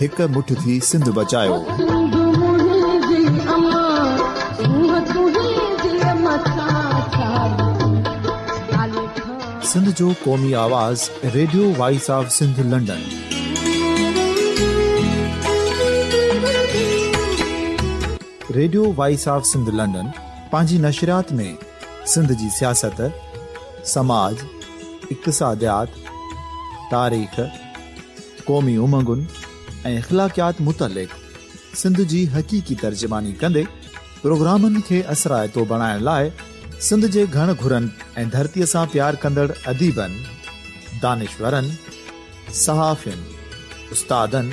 هڪ مٺ ٿي سنڌ بچايوسنڌ جو قومي آواز Radio Voice of Sindh London Radio Voice of Sindh London پنهنجي نشريات ۾ سنڌ جي سياست سماج اقتصاديات تاريخ قومي امنگن ۽ اخلاقيات متعلق سنڌ جي حقيقي ترجماني ڪندي پروگرامن کي اثرائتو بڻائڻ لاء سنڌ جي گهڻ گهرن ۽ ڌرتي سان پيار ڪندڙ اديبن، دانشورن، صحافين، استادن،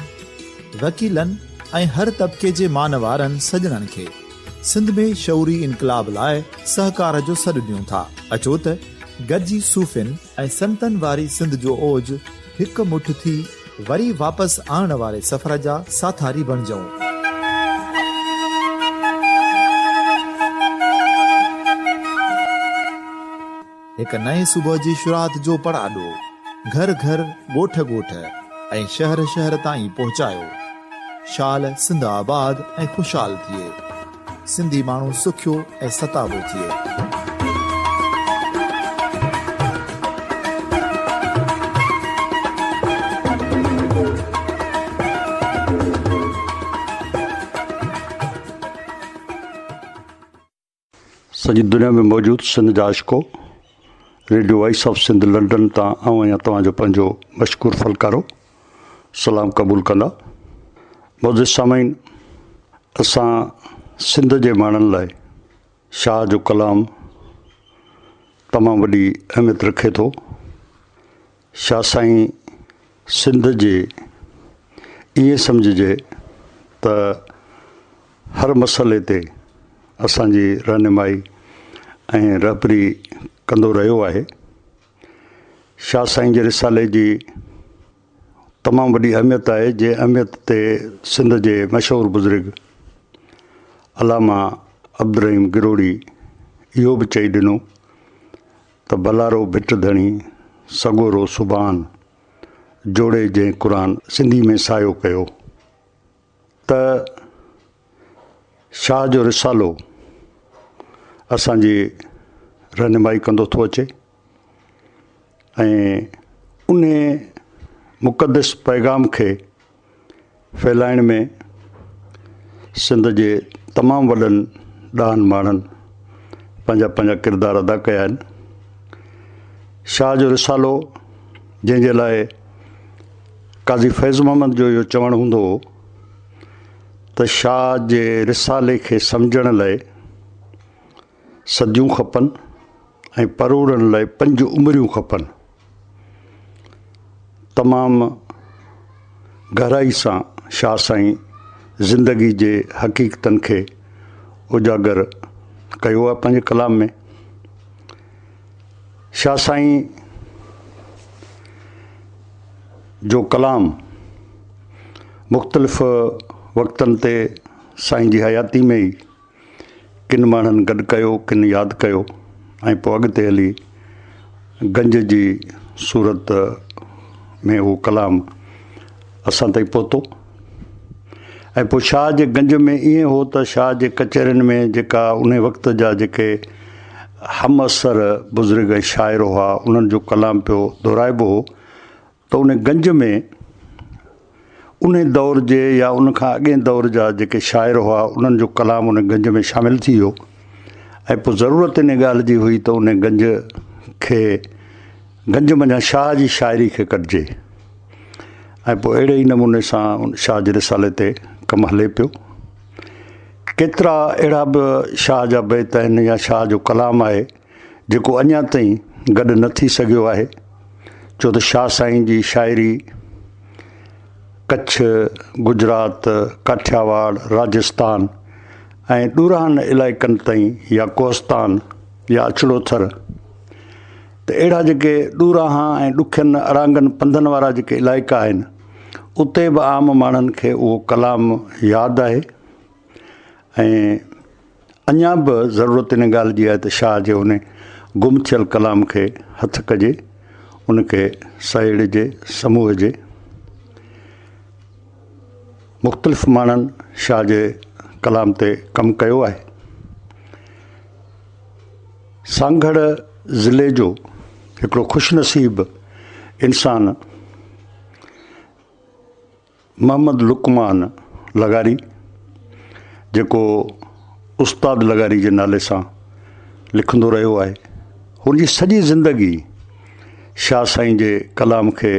وڪيلن ۽ هر طبقي جي مانوارن سڄڻن کي سنڌ ۾ شعوري انقلاب لاء سهڪار جو سڏ ڏيون ٿا. اچو ته گڏجي صوفين، ۽ سنتن واري سنڌ جو اوج هڪ مٺ ٿي وري واپس آڻڻ واري سفر جا ساٿاري بڻجئون. هڪ نئين صبح جي شروعات جو پڙاڏو گهر گهر، ڳوٺ ڳوٺ ۽ شهر شهر تائين پهچايو. شال سنڌ آباد ۽ خوشحال ٿئي. سنڌي ماڻهو سکيو ۽ ستابو ٿئي. سڄي دنيا ۾ موجود سنڌ جا عاشقو Radio Voice of Sindh London تان آئون آهيان توهان جو پنهنجو مشڪور فلڪارو. سلام قبول ڪندا. معزز سامعين اسان سنڌ جي ماڻهن لاء شاهه جو ڪلام تمام وڏي اهميت رکي ٿو. شاهه سائين سنڌ جي ائين سمجهجي ته هر مسئلي تي اسان جي رهنمائي ۽ رهبري ڪندو رهيو آهي. شاهه سائين جي رسالي جي تمام وڏي اهميت آهي جنهن اهميت تي سنڌ جي مشهور بزرگ علامه عبدالرحيم گروڙي اهو به چئي ڏنو ته بلارو ڀٽ ڌڻي سڳورو سبحان جوڙي جنهن قرآن سنڌي ۾ سايو ڪيو. ته شاهه جو رسالو اسان جي رهنمائي ڪندو ٿو اچي ۽ ان مقدس پيغام کي ڦهلائڻ ۾ سنڌ جي تمام وڏن ڏاهن ماڻهن پنهنجا پنهنجا ڪردار ادا ڪيا آهن شاهه جو رسالو جنهن جي لاء قاضي فيض محمد جو اهو چوڻ هوندو هو ته شاهه جي رسالي کي سمجهڻ لاء صديون کپن ۽ پروڙڻ لاء پنج عمريون کپن. تمام گهرائي سان شاهه سائين زندگي جي حقيقتن کي اجاگر ڪيو آهي پنهنجي ڪلام ۾. شاھ سائين جو ڪلام مختلف وقتن تي سائين جي حياتي ۾ ئي ڪن ماڻھن گڏ ڪيو ڪن ياد ڪيو ۽ پوء اڳتي ھلي گنج جي صورت ۾ اھو ڪلام اسان تائين پھتو ۽ پوء شاهه جي گنج ۾ ائين هو ته شاهه جي ڪچهرين ۾ جيڪا انهي وقت جا جيڪي همعصر بزرگ ۽ شاعر هئا انهن جو ڪلام پيو دهرائبو هو ته انهي گنج ۾ انهي دور جي يا ان کان اڳئين دور جا جيڪي شاعر هئا انهن جو ڪلام انهي گنج ۾ شامل ٿي ويو ۽ پوء ضرورت انهي ڳالهه جي هئي ته انهي گنج کي گنج منجهان شاهه جي شاعري کي ڪڍجي ۽ پوء اهڙي ئي نموني سان شاهه جي رسالي تي ڪم هلي پيو. ڪيترا اهڙا به شاهه جا بيت آهن يا شاهه جو ڪلام آهي جيڪو اڃا تائين گڏ نه ٿي سگهيو آهي ڇو ته شاهه سائين جي شاعري ڪڇ، گجرات، ڪاٺياواڙ، راجستان ۽ ڏورانهن علائقن تائين يا ڪوهستان يا اچڙوٿر، ته اهڙا جيڪي ڏوراها ۽ ڏکين اڙانگن پنڌن وارا جيڪي علائقا آهن اتي به عام ماڻهن کي اهو ڪلام ياد آهي ۽ اڃا به ضرورت ان ڳالهه جي آهي ته شاهه جي ان گم ٿيل ڪلام کي هٿ ڪجي ان کي سهيڙجي سموهجي مختلف ماڻهن شاهه جي ڪلام تي ڪم ڪيو آهي. سانگهڙ ضلعي جو هڪڙو خوش نصيب انسان محمد لقمان لغاري جيڪو استاد لغاري جي نالي سان لکندو رهيو آهي هن جي سڄي زندگي شاهه سائين جي ڪلام کي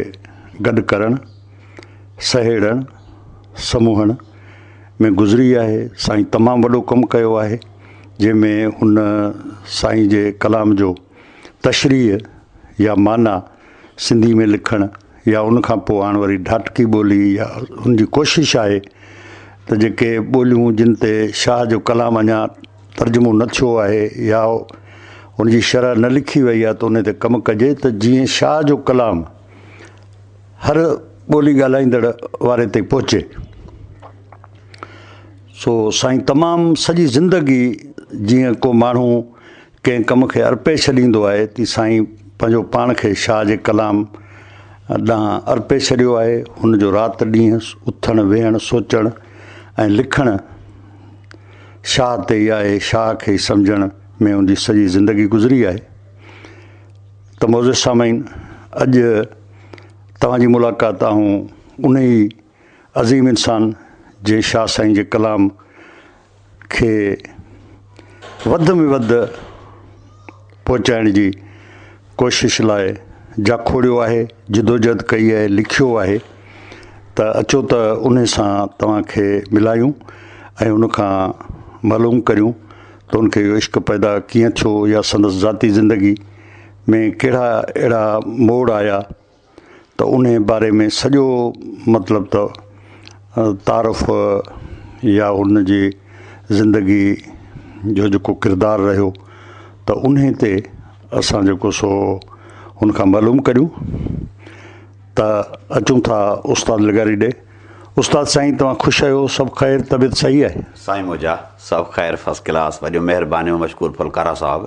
گڏ ڪرڻ سهيڙڻ سموهڻ ۾ گذري آهي سائين تمام وڏو ڪم ڪيو آهي جنهن ۾ ان سائين جي ڪلام جو تشريح يا معنيٰ سنڌي ۾ لکڻ يا ان کان پوء هاڻ وري ڍاٽڪي ٻولي يا ان جي ڪوشش آهي ته جيڪي ٻوليون جن تي شاهه جو ڪلام اڃا ترجمو نه ٿيو آهي يا ان جي شرح نه لکي وئي آهي ته ان تي ڪم ڪجي ته جيئن شاهه جو ڪلام هر ٻولي ڳالهائيندڙ واري تائين پهچي. سو سائين تمام سڄي زندگي جيئن ڪو ماڻهو ڪنهن ڪم کي ارپي ڇڏيندو آهي تي سائين پنهنجو پاڻ کي شاهه جي ڪلام ڏانهن ارپي ڇڏيو آهي هن جو رات ڏينهن اٿڻ ويهڻ سوچڻ ۽ لکڻ شاهه تي ئي آهي شاهه کي سمجهڻ ۾ ان جي سڄي زندگي گذري آهي ته موزي سامعين اڄ توهان جي ملاقات آئون ان ئي عظيم انسان جنهن شاهه سائين جي ڪلام کي وڌ ۾ وڌ پهچائڻ جي ڪوشش لاء جاکوڙيو آهي، جدوجهد ڪئي آهي، لکيو آهي ته اچو ته انهي سان توهان کي ملايون ۽ ان کان معلوم ڪريون ته ان کي اهو عشق پيدا ڪيئن ٿيو يا سندس ذاتي زندگي ۾ ڪهڙا اهڙا موڙ آيا ته انهيء باري ۾ سڄو مطلب ته تعارف يا هن جي زندگي جو جيڪو ڪردار رهيو ته انهيء تي اسان جيڪو سو هن کان معلوم ڪريون ته اچون ٿا استاد لغاري ڏي استاد سائين توهان خوش آهيو سڀ خير طبيعت صحيح آهي. سائين موجا سڀ خير فرسٽ ڪلاس وڏيون مهربانيون مشڪور ڦلڪارا صاحب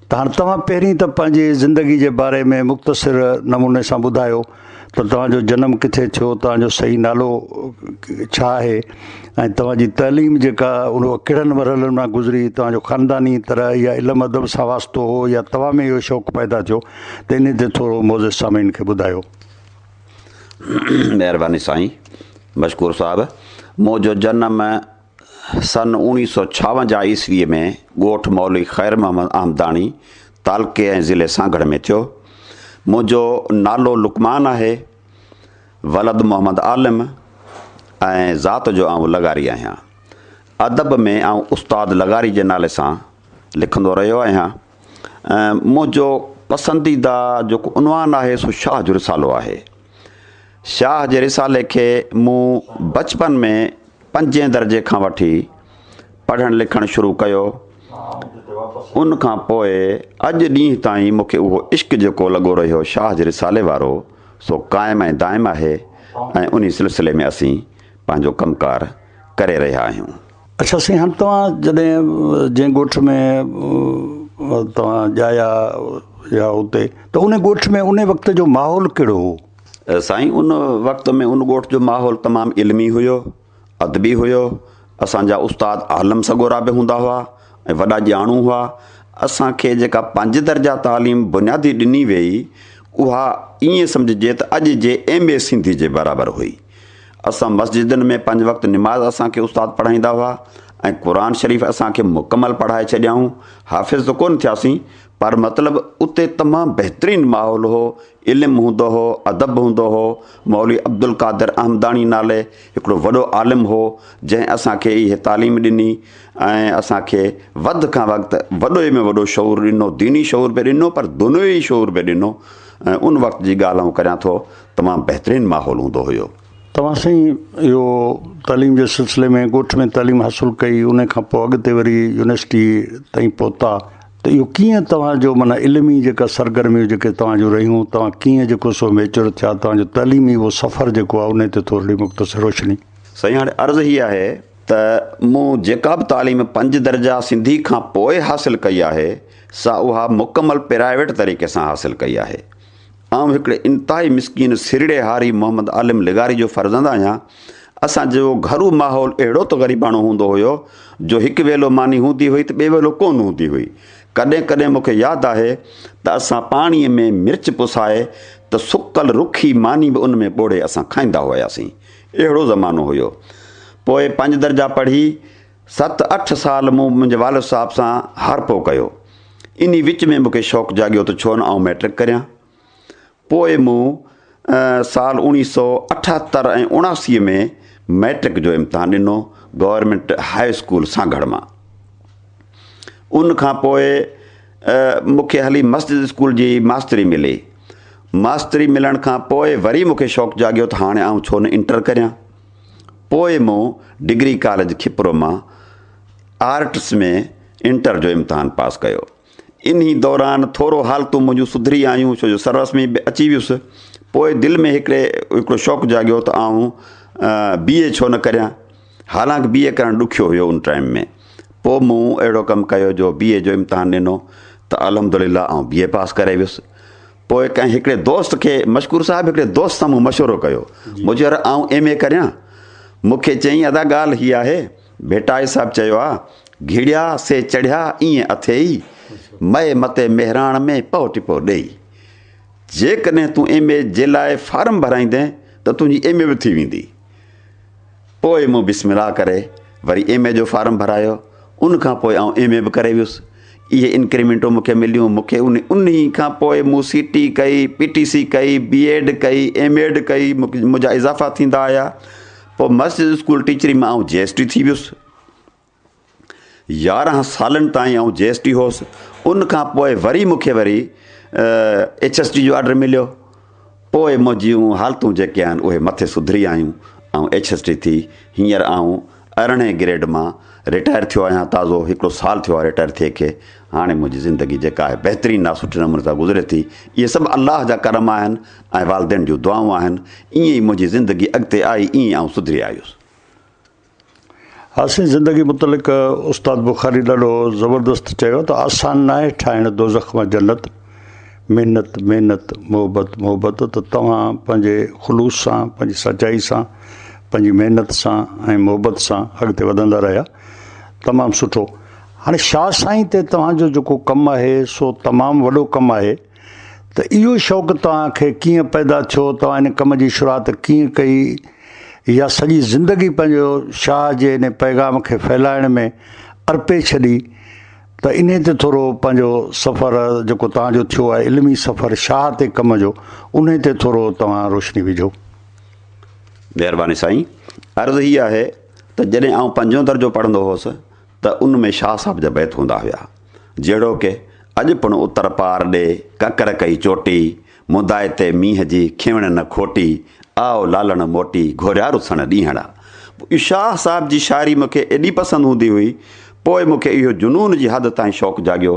ته هاڻ توهان پهرين ته پنهنجي زندگي جي باري ۾ مختصر نموني سان ٻڌايو ته توهان جو جنم ڪٿي ٿيو، توهان جو صحيح نالو ڇا آهي ۽ توهان جي تعليم جيڪا اهو ڪهڙن مرحلن مان گذري، توهان جو خانداني طرح يا علم ادب سان واسطو هو يا توهان ۾ اهو شوق پيدا ٿيو ته انهي تي ٿورو معزز سامعين کي ٻڌايو. مهرباني سائين مشڪور صاحب مون جو جنم سن اوڻيهه سؤ ڇاونجاهه عيسويء ۾ ڳوٺ مولوي خير محمد آمداڻي تعلقي ۽ ضلعي سانگهڙ ۾ ٿيو. منهنجو نالو لقمان آهي. ولد محمد عالم ۽ ذات جو آئون لغاري آهيان. ادب ۾ آئون استاد لغاري جي نالي سان لکندو رهيو آهيان. ۽ منهنجو پسنديده جيڪو عنوان آهي سو شاهه جو رسالو آهي شاهه جي رسالي کي مون بچپن ۾ پنجين درجي کان وٺي پڙهڻ لکڻ شروع ڪيو ان کان پوء اڄ ڏينهن تائين مونکي اهو عشق جيڪو لڳو رهيو شاهه جي رسالي وارو سو قائم ۽ دائم آهي ۽ انهي سلسلي ۾ اسين پنهنجو ڪم ڪار ڪري رهيا آهيون اڇا سائين هاڻي توهان جڏهن جنهن ڳوٺ ۾ توهان ڄايا يا اتي ته ان ڳوٺ ۾ ان وقت جو ماحول ڪهڙو هو؟ سائين ان وقت ۾ ان ڳوٺ جو ماحول تمام علمي هيو ادبي هيو اسان جا استاد عالم سڳورا به هوندا هئا ۽ وڏا ڄاڻو هئا اسان کي جيڪا پنج درجا تعليم بنيادي ڏني ويئي اها ائين سمجهجي ته اڄ جي ايم اي سنڌي جي برابر هئي. اسان مسجدن ۾ پنج وقت نماز اسان کي استاد پڙهائيندا هئا ۽ قرآن شريف اسان کي مڪمل پڙهائي ڇڏيائون. حافظ ته ڪونه ٿياسين پر مطلب اتي تمام بهترين ماحول هو، علم هوندو هو، ادب هوندو هو، مولوي عبدالقادر احمداڻي نالي هڪڙو وڏو عالم هو جنهن اسان کي اهي تعليم ڏني ۽ اسان کي وڌ کان وقت وڏوئي ۾ وڏو شعور ڏنو، ديني شعور به ڏنو پر دنيوي شعور به ڏنو ۽ ان وقت جي ڳالهه آئون ڪريان ٿو تمام بهترين ماحول هوندو هيو. توهان سائين اهو تعليم جي سلسلي ۾ ڳوٺ ۾ تعليم حاصل ڪئي ان کان پوء اڳتي وري يونيورسٽي تائين پهتا ته اهو ڪيئن توهان جو معنيٰ علمي جيڪا سرگرميون جيڪي توهان جون رهيون توهان ڪيئن جيڪو سو ميچور ٿيا توهان جو تعليمي اهو سفر جيڪو آهي ان تي ٿورڙي مختصر روشني. سائين هاڻي عرض هي آهي ته مون جيڪا به تعليم پنج درجا سنڌي کان پوء حاصل ڪئي آهي سا اها مڪمل پرائيويٽ طريقي سان حاصل ڪئي آهي آئون هڪڙي انتهائي مسڪين سرڙي هاري محمد عالم لغاري جو فرزند آهيان. اسان جو گهرو ماحول اهڙو ته غريباڻو هوندو هيو جو هڪ ويلو ماني هوندي هئي ته ٻئي ويلو ڪونه هوندي هئي. ڪڏهن ڪڏهن مون کي ياد آهي ته اسان پاڻيء ۾ مرچ پسائي ته سڪل رکي ماني به ان ۾ ٻوڙي اسان کائيندا هياسين. اهڙو زمانو هيو. پوء پنج درجا پڙهي. ست اٺ سال مون منهنجي والد صاحب سان هارپو ڪيو. انهي وچ ۾ مون کي شوق جاڳيو ته ڇو نه آئون مئٽرڪ ڪريان. پوء مون سال اوڻيهه سؤ اٺهتر ۽ اڻاسي ۾ مئٽرڪ جو امتحان ڏنو گورنمينٽ هاء اسڪول سانگهڙ مان. ان کان پوء مون کي هلي مسجد اسڪول جي ماستري ملي. ماستري ملڻ کان پوء وري مون کي شوق جاڳيو ته هاڻي آئون ڇو نه انٽر ڪريان. پوء مون ڊگري ڪاليج کپرو مان آرٽس ۾ انٽر جو امتحان پاس ڪيو. انهي دوران ٿورو حالتون منهنجون سڌري آيون ڇو جو سررسمي به اچي ويس. پوء دل ۾ هڪڙي هڪڙو شوق جاڳيو ته آئون بي اي ڇو نه ڪريان. حالانڪ بي اي ڪرڻ ڏکيو هيو ان ٽائيم ۾. پوء مون اهڙو ڪم ڪيو جو بي اي جو امتحان ڏنو ته الحمدلله آئون بي اي پاس ڪري ويس. پوء ڪنهن هڪڙي دوست کي مشڪور صاحب هڪڙي دوست سان مون مشورو ڪيو مون چيو يار آئون ايم اي ڪريان مون کي چيائين ادا ڳالهه هي آهي ڀٽائي صاحب چيو آ گهڙيا سي چڙهيا ائين اٿيئي مئي متي مهراڻ ۾ پئو ٽپو ڏيئي جيڪڏهن تون ايم اي جي لاء فارم ڀرائيندين ته تنهنجي ايم اي به ٿي ويندي. پوء مون بسم الله ڪري وري ايم اي جو فارم ڀرايو، ان کان پوء آئون ايم اي به ڪري ويس، اهي انڪريمينٽون مون کي مليون، مون کي انهي کان پوء مون سي ٽي ڪئي، پي ٽي سي ڪئي، بي ايڊ ڪئي، ايم ايڊ ڪئي، منهنجا اضافا ٿيندا آيا، پوء مسجد اسڪول ٽيچري مان آئون جي ايس ٽي ٿي ويس. يارهن سالن تائين آئون جي ايس ٽي هوس ان کان پوء وري مون کي وري ايڇ ايس ٽي جو آرڊر مليو پوء منهنجون حالتون جيڪي آهن اهي مٿي سڌري آيون آئون ايڇ ايس ٽي ٿي هينئر آئون ارڙهين گريڊ مان رٽائر ٿيو آهيان تازو هڪڙو سال ٿيو آهي رٽائر ٿئي کي هاڻي منهنجي زندگي جيڪا آهي بهترين آهي سٺي نموني سان گذري ٿي اهي سڀ الله جا ڪرم آهن ۽ والدين جون دعائون آهن ائين ئي منهنجي زندگي اڳتي آئي ائين آئون سڌري آيس آسين زندگي متعلق استاد بخاري ڏاڍو زبردست چيو ته آسان ناهي ٺاهڻ دوزخ مان جنت محنت محنت محبت محبت ته توهان پنهنجي خلوص سان پنهنجي سچائي سان پنهنجي محنت سان ۽ محبت سان اڳتي وڌندا رهيا تمام سٺو هاڻي شاهه سائين تي توهان جو جيڪو ڪم آهي سو تمام وڏو ڪم آهي ته اهو شوق توهان کي ڪيئن پيدا ٿيو، توهان ان ڪم جي شروعات ڪيئن ڪئي يا سڄي زندگي پنهنجو شاهه جي انهي پيغام کي ڦهلائڻ ۾ ارپي ڇڏي ته انهي تي ٿورو پنهنجو سفر جيڪو توهان جو ٿيو آهي علمي سفر شاهه تي ڪم جو انهي تي ٿورو توهان روشني وجهو. مهرباني سائين عرض هي آهي ته جڏهن آئون پنجون درجو پڙهندو هوس ته ان ۾ شاهه صاحب جا بيت هوندا هيا، جهڙوڪ، اڄ پڻ اتر پار ڏي، ڪڪر ڪئي چوٽي، مدائي تي مينهن جي کيوڻ نه کوٽي، آء لالڻ موٽي، گهوريا رسڻ ڏينهڙا. شاهه صاحب جي شاعري مون کي ايڏي پسند هوندي هئي، پوء مون کي اهو جنون جي حد تائين شوق جاڳيو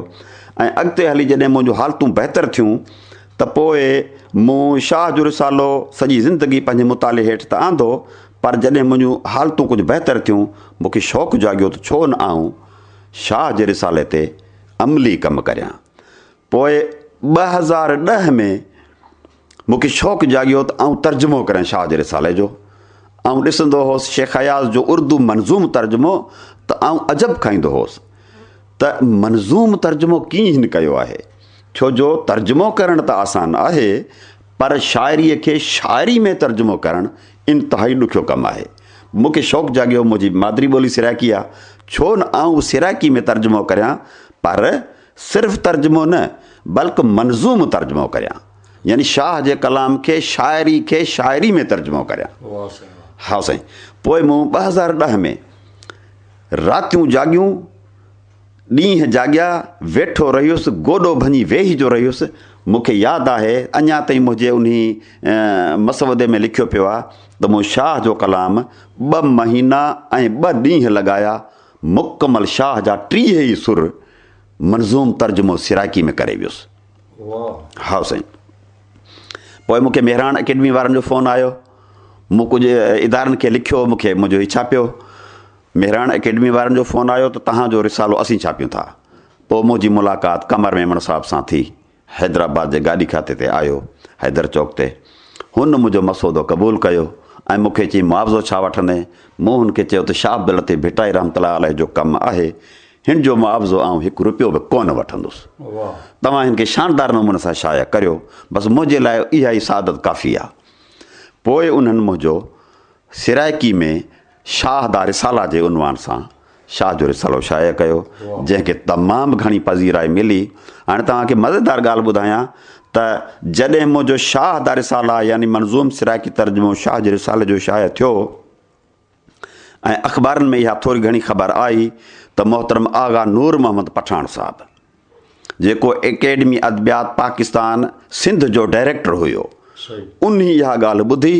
۽ اڳتي هلي جڏهن منهنجون حالتون بهتر ٿيون ته پوء مون شاهه جو رسالو سڄي زندگي پنهنجي مطالعي هيٺ ته آندو پر جڏهن منهنجون حالتون ڪجهه بهتر ٿيون، مون کي شوق جاڳيو ته ڇو نه آئون شاهه جي رسالي تي عملي ڪم ڪريان. پوء ٻه هزار ڏهه ۾ مون کي شوق جاڳيو ته آئون ترجمو ڪريان شاهه جي رسالي جو. آئون ڏسندو هوس شيخ اياز جو اردو منظوم ترجمو ته آئون عجب کائيندو هوس ته منظوم ترجمو ڪيئن هن ڪيو آهي. ڇو جو ترجمو ڪرڻ ته آسان آهي، پر شاعريء کي شاعري ۾ ترجمو ڪرڻ انتهائي ڏکيو ڪم آهي. مون کي شوق جاڳيو، منهنجي مادري ٻولي سرائڪي آهي، ڇو نه آئون سرائڪي ۾ ترجمو ڪريان، پر صرف ترجمو نه، بلڪ منظوم ترجمو ڪريان. يعني شاهه جي ڪلام کي شاعري کي شاعري ۾ ترجمو ڪريان. هائو سائين. پوء مون ٻه هزار ڏهه ۾ راتيون جاڳيون. ڏينهن جاڳيا ويٺو رهيس، گوڏو ڀڃي ويهي جو رهيس، مون کي ياد آهي اڃا تائين منهنجي انهي مسودي ۾ لکيو پيو آهي ته مون شاهه جو ڪلام ٻه مهينا ۽ ٻه ڏينهن لڳايا، مڪمل شاهه جا ٽيهه ئي سر منظوم ترجمو سرائڪي ۾ ڪري ويس. هائو سائين. پوء مون کي مهراڻ اڪيڊمي وارن جو فون آيو، مون ڪجهه ادارن کي لکيو، مون کي منهنجو هي ڇاپيو. مهراڻ اڪيڊمي وارن جو فون آيو ته توهان جو رسالو اسين ڇاپيون ٿا. پوء منهنجي ملاقات قمر ميمڻ صاحب سان ٿي. حيدرآباد جي گاڏي کاتي تي آيو، حيدر چوڪ تي. هن منهنجو مسودو قبول ڪيو ۽ مون کي چيائين معاوضو ڇا وٺندين؟ مون هن کي چيو ته شاهه عبداللطيف ڀٽائي رحمة الله عليه جو ڪم آهي، هن جو معاوضو آئون هڪ روپيو به ڪو نه وٺندس. توهان هن کي شاندار نموني سان شايع ڪريو، بس منهنجي لاء اها ئي سعادت ڪافي آهي. پوء انهن منهنجو سرائڪي ۾ شاهه دا رسالا جي عنوان سان شاهه جو رسالو شايع ڪيو جنهن کي تمام گهڻي پذيرائي ملي هاڻي توهان کي مزيدار ڳالهه ٻڌايان ته جڏهن منهنجو شاهه دا رسالا يعني منظوم سرائڪي ترجمو شاهه جي رسالي جو شايع ٿيو ۽ اخبارن ۾ اها ٿوري گهڻي خبر آئي ته محترم آغا نور محمد پٺاڻ صاحب جيڪو اڪيڊمي ادبيات پاڪستان سنڌ جو ڊائريڪٽر هيو، انهي اها ڳالهه ٻڌي،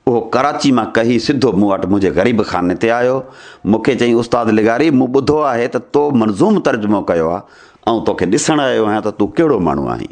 اهو ڪراچي مان ڪهي سڌو مون وٽ منهنجي غريب خاني تي آيو، مون کي چيائين استاد لغاري مون ٻڌو آهي ته تو منظوم ترجمو ڪيو آهي، آئون توکي ڏسڻ آيو آهيان ته تون ڪهڙو ماڻهو آهين؟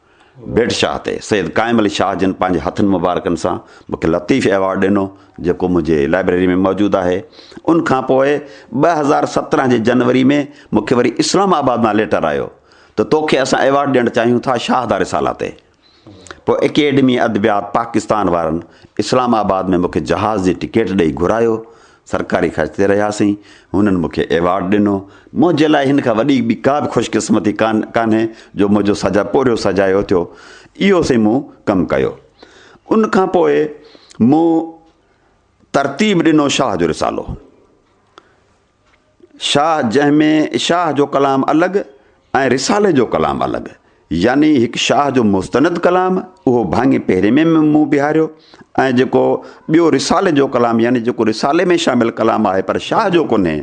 بيٽ شاهه تي سيد قائم علي شاهه جن پنهنجي هٿن مبارڪن سان مون کي لطيف ايوارڊ ڏنو، جيڪو منهنجي لائبريري ۾ موجود آهي. ان کان پوء ٻه هزار سترهن جي جنوري ۾ مون کي وري اسلام آباد مان ليٽر آيو ته توکي اسان ايوارڊ ڏيڻ چاهيون ٿا شاهه دا رسالا تي. پوء اڪيڊمي ادبيات پاڪستان وارن اسلام آباد ۾ مون کي جهاز جي ٽڪيٽ ڏئي گهرايو سرڪاري خرچ تي رهياسين، هنن مون کي ايوارڊ ڏنو، منهنجي لاء هن کان وڏي ٻي ڪا به خوش قسمتي ڪانهي جو منهنجو سجا پورهيو سجايو ٿيو، اهو سين مون ڪم ڪيو. ان کان پوء مون ترتيب ڏنو شاهه جو رسالو. شاهه جنهن ۾ شاهه جو ڪلام الڳ ۽ رسالي جو ڪلام الڳ يعني هڪ شاهه جو مستند ڪلام اهو ڀاڱي پهرين ۾ مون بيهاريو ۽ جيڪو ٻيو رسالي جو ڪلام يعني جيڪو رسالي ۾ شامل ڪلام آهي پر شاهه جو ڪونهي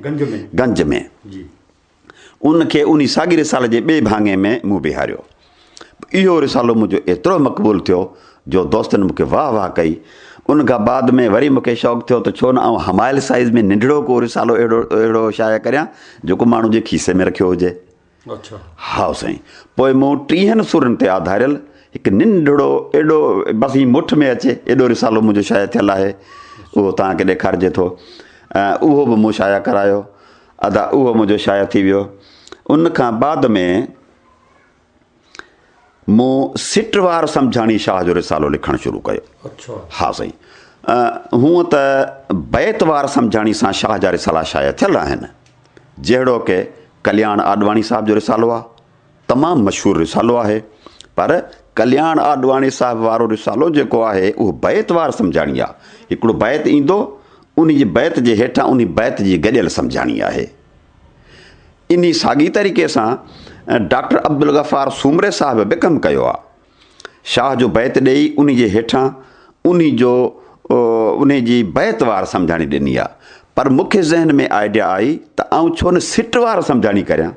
گنج ۾ ان کي انهي ساڳي رسالي جي ٻئي ڀاڱي ۾ مون بيهاريو اهو رسالو منهنجو ايترو مقبول ٿيو جو دوستن مون کي واهه واهه ڪئي. ان کان بعد ۾ وري مون کي شوق ٿيو ته ڇو نه آئون همايل سائيز ۾ ننڍڙو ڪو رسالو اهڙو اهڙو شايع ڪريان جيڪو ماڻهو جي کيسي ۾ رکيو هجي. اڇا. هائو سائين. پوء مون ٽيهن سورن تي آڌاريل هڪ ننڍڙو ايڏو بس ائين مٺ ۾ اچي ايڏو رسالو منهنجو شايع ٿيل آهي. اهو توهان کي ڏيکارجي ٿو. اهو به مون شايع ڪرايو. ادا اهو منهنجو شايع ٿي ويو. ان کان بعد ۾ مون سٽ وار سمجهاڻي شاهه جو رسالو لکڻ شروع ڪيو. اڇا. ها سائين. هونء ته بيت وار سمجهاڻي سان شاهه جا رسالا شايع ٿيل آهن. جهڙوڪ ڪلياڻ آڏواڻي صاحب جو رسالو آ. تمام مشهور رسالو آهي. پر ڪلياڻ آڏواڻي صاحب وارو رسالو جيڪو آهي اهو بيت وار سمجهاڻي آ. هڪڙو بيت ايندو، انهي جي بيت جي هيٺان انهي بيت جي گڏيل سمجهاڻي آهي. انهي ساڳي طريقي سان ڊاڪٽر عبدالغفار سومري صاحب به ڪم ڪيو آ. شاهه جو بيت ڏيئي انهي جي هيٺان انهي جو انهي جي بيت وار سمجهاڻي ڏني آ. پر مون کي ذهن ۾ آئيڊيا آئي ته آئون ڇو نه سٽ وار سمجهاڻي ڪريان.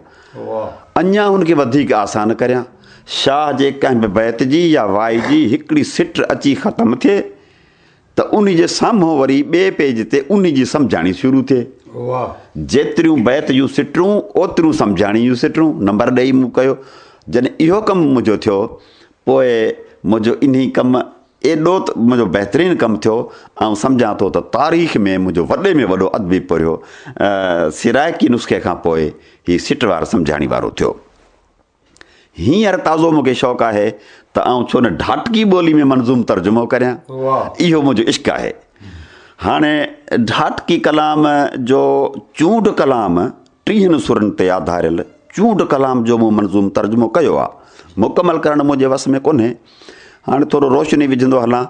اڃا هن کي وڌيڪ آسان ڪريان. شاهه جي ڪنهن به بيت جي يا وائي جي هڪڙي سٽ اچي ختم ٿئي. ته ان جي سامهون وري ٻئي پيج تي ان جي سمجهاڻي شروع ٿئي. جيتريون بيت جون سٽرون اوتريون سمجهاڻي جون سٽرون نمبر ڏئي مون ڪيو. جڏهن اهو ڪم منهنجو ٿيو پوء منهنجو انهي ڪم ايڏو ته منهنجو بهترين ڪم ٿيو. آئون سمجهان ٿو ته تاريخ ۾ منهنجو وڏي ۾ وڏو ادبي پورهيو سرائڪي نسخي کان پوء هي سٽ وار سمجهاڻي وارو ٿيو. هينئر تازو مون کي شوق آهي ته آئون ڇو نه ڍاٽڪي ٻولي ۾ منظوم ترجمو ڪريان. اهو منهنجو عشق آهي. هاڻي ڍاٽڪي ڪلام جو چونڊ ڪلام ٽيهن سرن تي آڌاريل چونڊ ڪلام جو مون منظوم ترجمو ڪيو آهي. مڪمل ڪرڻ منهنجي وس ۾ ڪونهي. هاڻي ٿورو روشني وجهندو هلان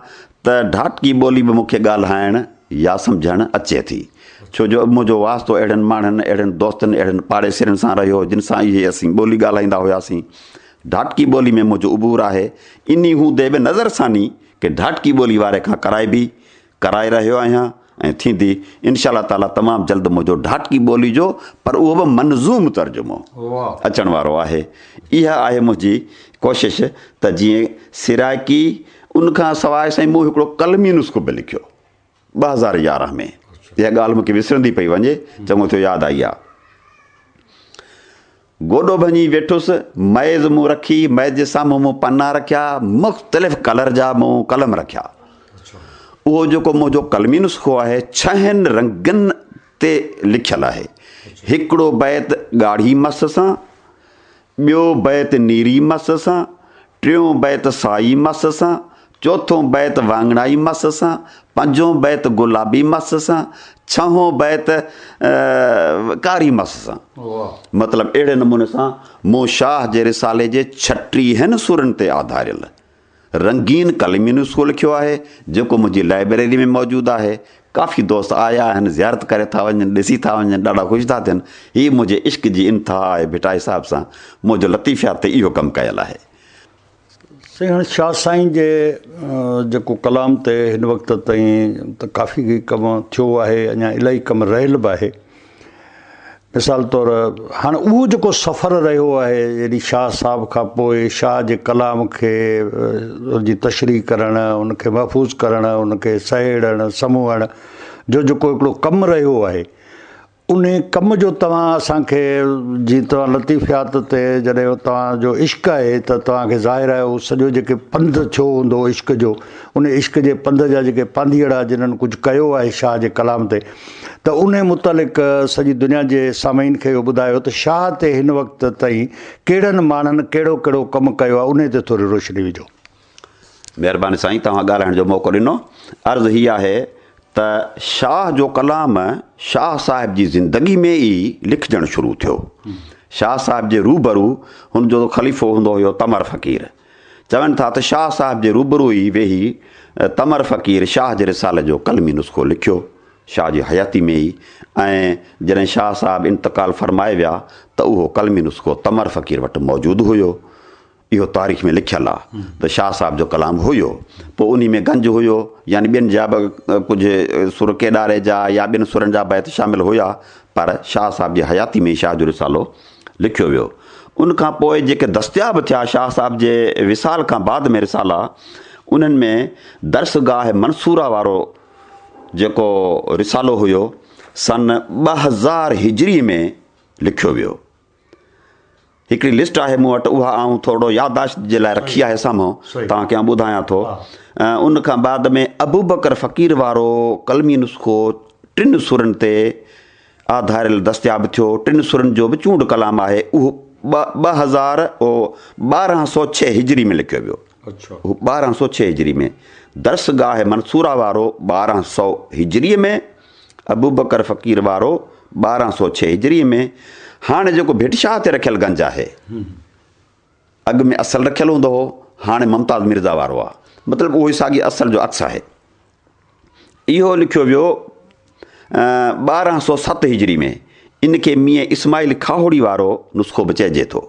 ته ڍاٽڪي ٻولي به مون کي ڳالهائڻ يا سمجهڻ اچي ٿي. ڇو جو منهنجو واسطو اهڙن ماڻهن، اهڙن دوستن، اهڙن پاڙيسرين سان رهيو جن سان اهي اسين ٻولي ڳالهائيندا هياسين. ڍاٽڪي ٻولي ۾ منهنجو عبور آهي. انهي هوندي به نظرثاني ڪي ڍاٽڪي ٻولي واري کان ڪرائبي ڪرائي رهيو آهيان ۽ ٿيندي انشاء الله تعاليٰ تمام جلد منهنجو ڍاٽڪي ٻولي جو پر اهو به منظوم ترجمو اچڻ وارو آهي اها آهي منهنجي ڪوشش ته جيئن سرائڪي ان کان سواء سائين مون هڪڙو قلمي نسخو به لکيو ٻه هزار يارهن ۾ اها ڳالهه مون کي وسرندي پئي وڃي چڱو ٿيو ياد آئي آهي گوڏو ڀڃي ويٺس، ميز مون رکي، ميز جي سامهون مون پنا رکيا، مختلف ڪلر جا مون قلم رکيا. اهو جيڪو منهنجو قلمي نسخو آهي، ڇهن رنگن تي لکيل آهي. هڪڙو بيت ڳاڙهي مس سان، ٻيو بيت نيري مس سان، ٽيون بيت سائي مس سان، چوٿون بيت واڱڻائي مس سان، پنجون بيت گلابي مس سان، ڇهون بيت ڪاري مس سان. مطلب اهڙي نموني سان مون شاهه جي رسالي جي ڇٽيهن سرن تي آڌاريل رنگين ڪلمين اصول لکيو آهي، جيڪو منهنجي لائبريري ۾ موجود آهي. ڪافي دوست آيا آهن زيارت ڪري ٿا وڃن ڏسي ٿا وڃن ڏاڍا خوش ٿا ٿين هي منهنجي عشق جي انتها آهي ڀٽائي صاحب سان منهنجو لطيفيات تي اهو ڪم ڪيل آهي. سيڻ شاهه سائين جي جيڪو ڪلام تي هن وقت تائين ته ڪافي ڪم ٿيو آهي اڃا الاهي ڪم رهيل به آهي مثال طور هاڻ اهو جيڪو سفر رهيو آهي يعني شاهه صاحب کان پوء شاهه جي ڪلام کي ان جي تشريح ڪرڻ ان کي محفوظ ڪرڻ ان کي سهيڙڻ سموهڻ جو جيڪو هڪڙو ڪم رهيو آهي انهي ڪم جو توهان اسان کي جي توهان لطيفيات تي جڏهن توهان جو عشق آهي ته توهان کي ظاهر آهي اهو سڄو جيڪي پنڌ ٿيو هوندو عشق جو ان عشق جي پنڌ جا جيڪي پانڌيئڙا جنهن ڪجهه ڪيو آهي شاهه جي ڪلام تي ته انهي متعلق سڄي دنيا جي سامعين کي اهو ٻڌايو ته شاهه تي هن وقت تائين ڪهڙن ماڻهن ڪهڙو ڪهڙو ڪم ڪيو آهي انهي تي ٿوري روشني وجهو. مهرباني سائين توهان ڳالهائڻ جو موقعو ڏنو. عرض هي آهي ته شاهه جو ڪلام شاهه صاحب جي زندگي ۾ ئي لکجڻ شروع ٿيو. شاهه صاحب جي روبرو هن جو خليفو هوندو هيو تمر فقير. چون ٿا ته شاهه صاحب جي روبرو ئي ويهي تمر فقير شاهه جي رسالي جو قلمي نسخو لکيو. شاهه جي حياتي ۾ ئي ۽ جڏهن شاهه صاحب انتقال فرمائي ويا ته اهو قلمي نسخو تمر فقير وٽ موجود هيو. اهو تاريخ ۾ لکيل آ ته شاهه صاحب جو ڪلام هيو. پوء انهي ۾ گنج هيو يعني ٻين جا به ڪجهه سر ڪيڏاري جا يا ٻين سرن جا بيت شامل هيا پر شاهه صاحب جي حياتي ۾ ئي شاهه جو رسالو لکيو ويو. ان کان پوء جيڪي دستياب ٿيا شاهه صاحب جي وصال کان بعد ۾ رسالا انهن ۾ درسگاهه منصوره وارو جيڪو رسالو هيو سن ٻه هزار هجري ۾ لکيو ويو. هڪڙي لسٽ آهي مون وٽ اها آئون ٿورڙو يادداشت جي لاء رکي آهي سامهو توهان کي آئون ٻڌايان ٿو. ان کان بعد ۾ ابوبڪر فقير وارو قلمي نسخو ٽن سرن تي آ ڌاريل دستياب ٿيو. ٽن سرن جو به چونڊ ڪلام آهي. اهو ٻه ٻه هزار او ٻارهن سؤ ڇهه هجري ۾ لکيو ويو. اهو ٻارهن سؤ ڇهه هجري ۾. درس گاهه منصوره وارو ٻارهن سؤ هجري ۾. ابوبڪر فقير وارو ٻارهن سؤ ڇهه هجري ۾. هاڻي جيڪو ڀٽ شاهه تي رکيل گنج آهي. اڳ ۾ اصل رکيل هوندو هو. هاڻي ممتاز مرزا وارو آ. مطلب اهو ئي ساڳي اصل جو عڪس آهي. اهو لکيو ويو ٻارهن سؤ ست هجري ۾، ان کي ميين اسماعيل کاهوڙي وارو نسخو به چئجي ٿو.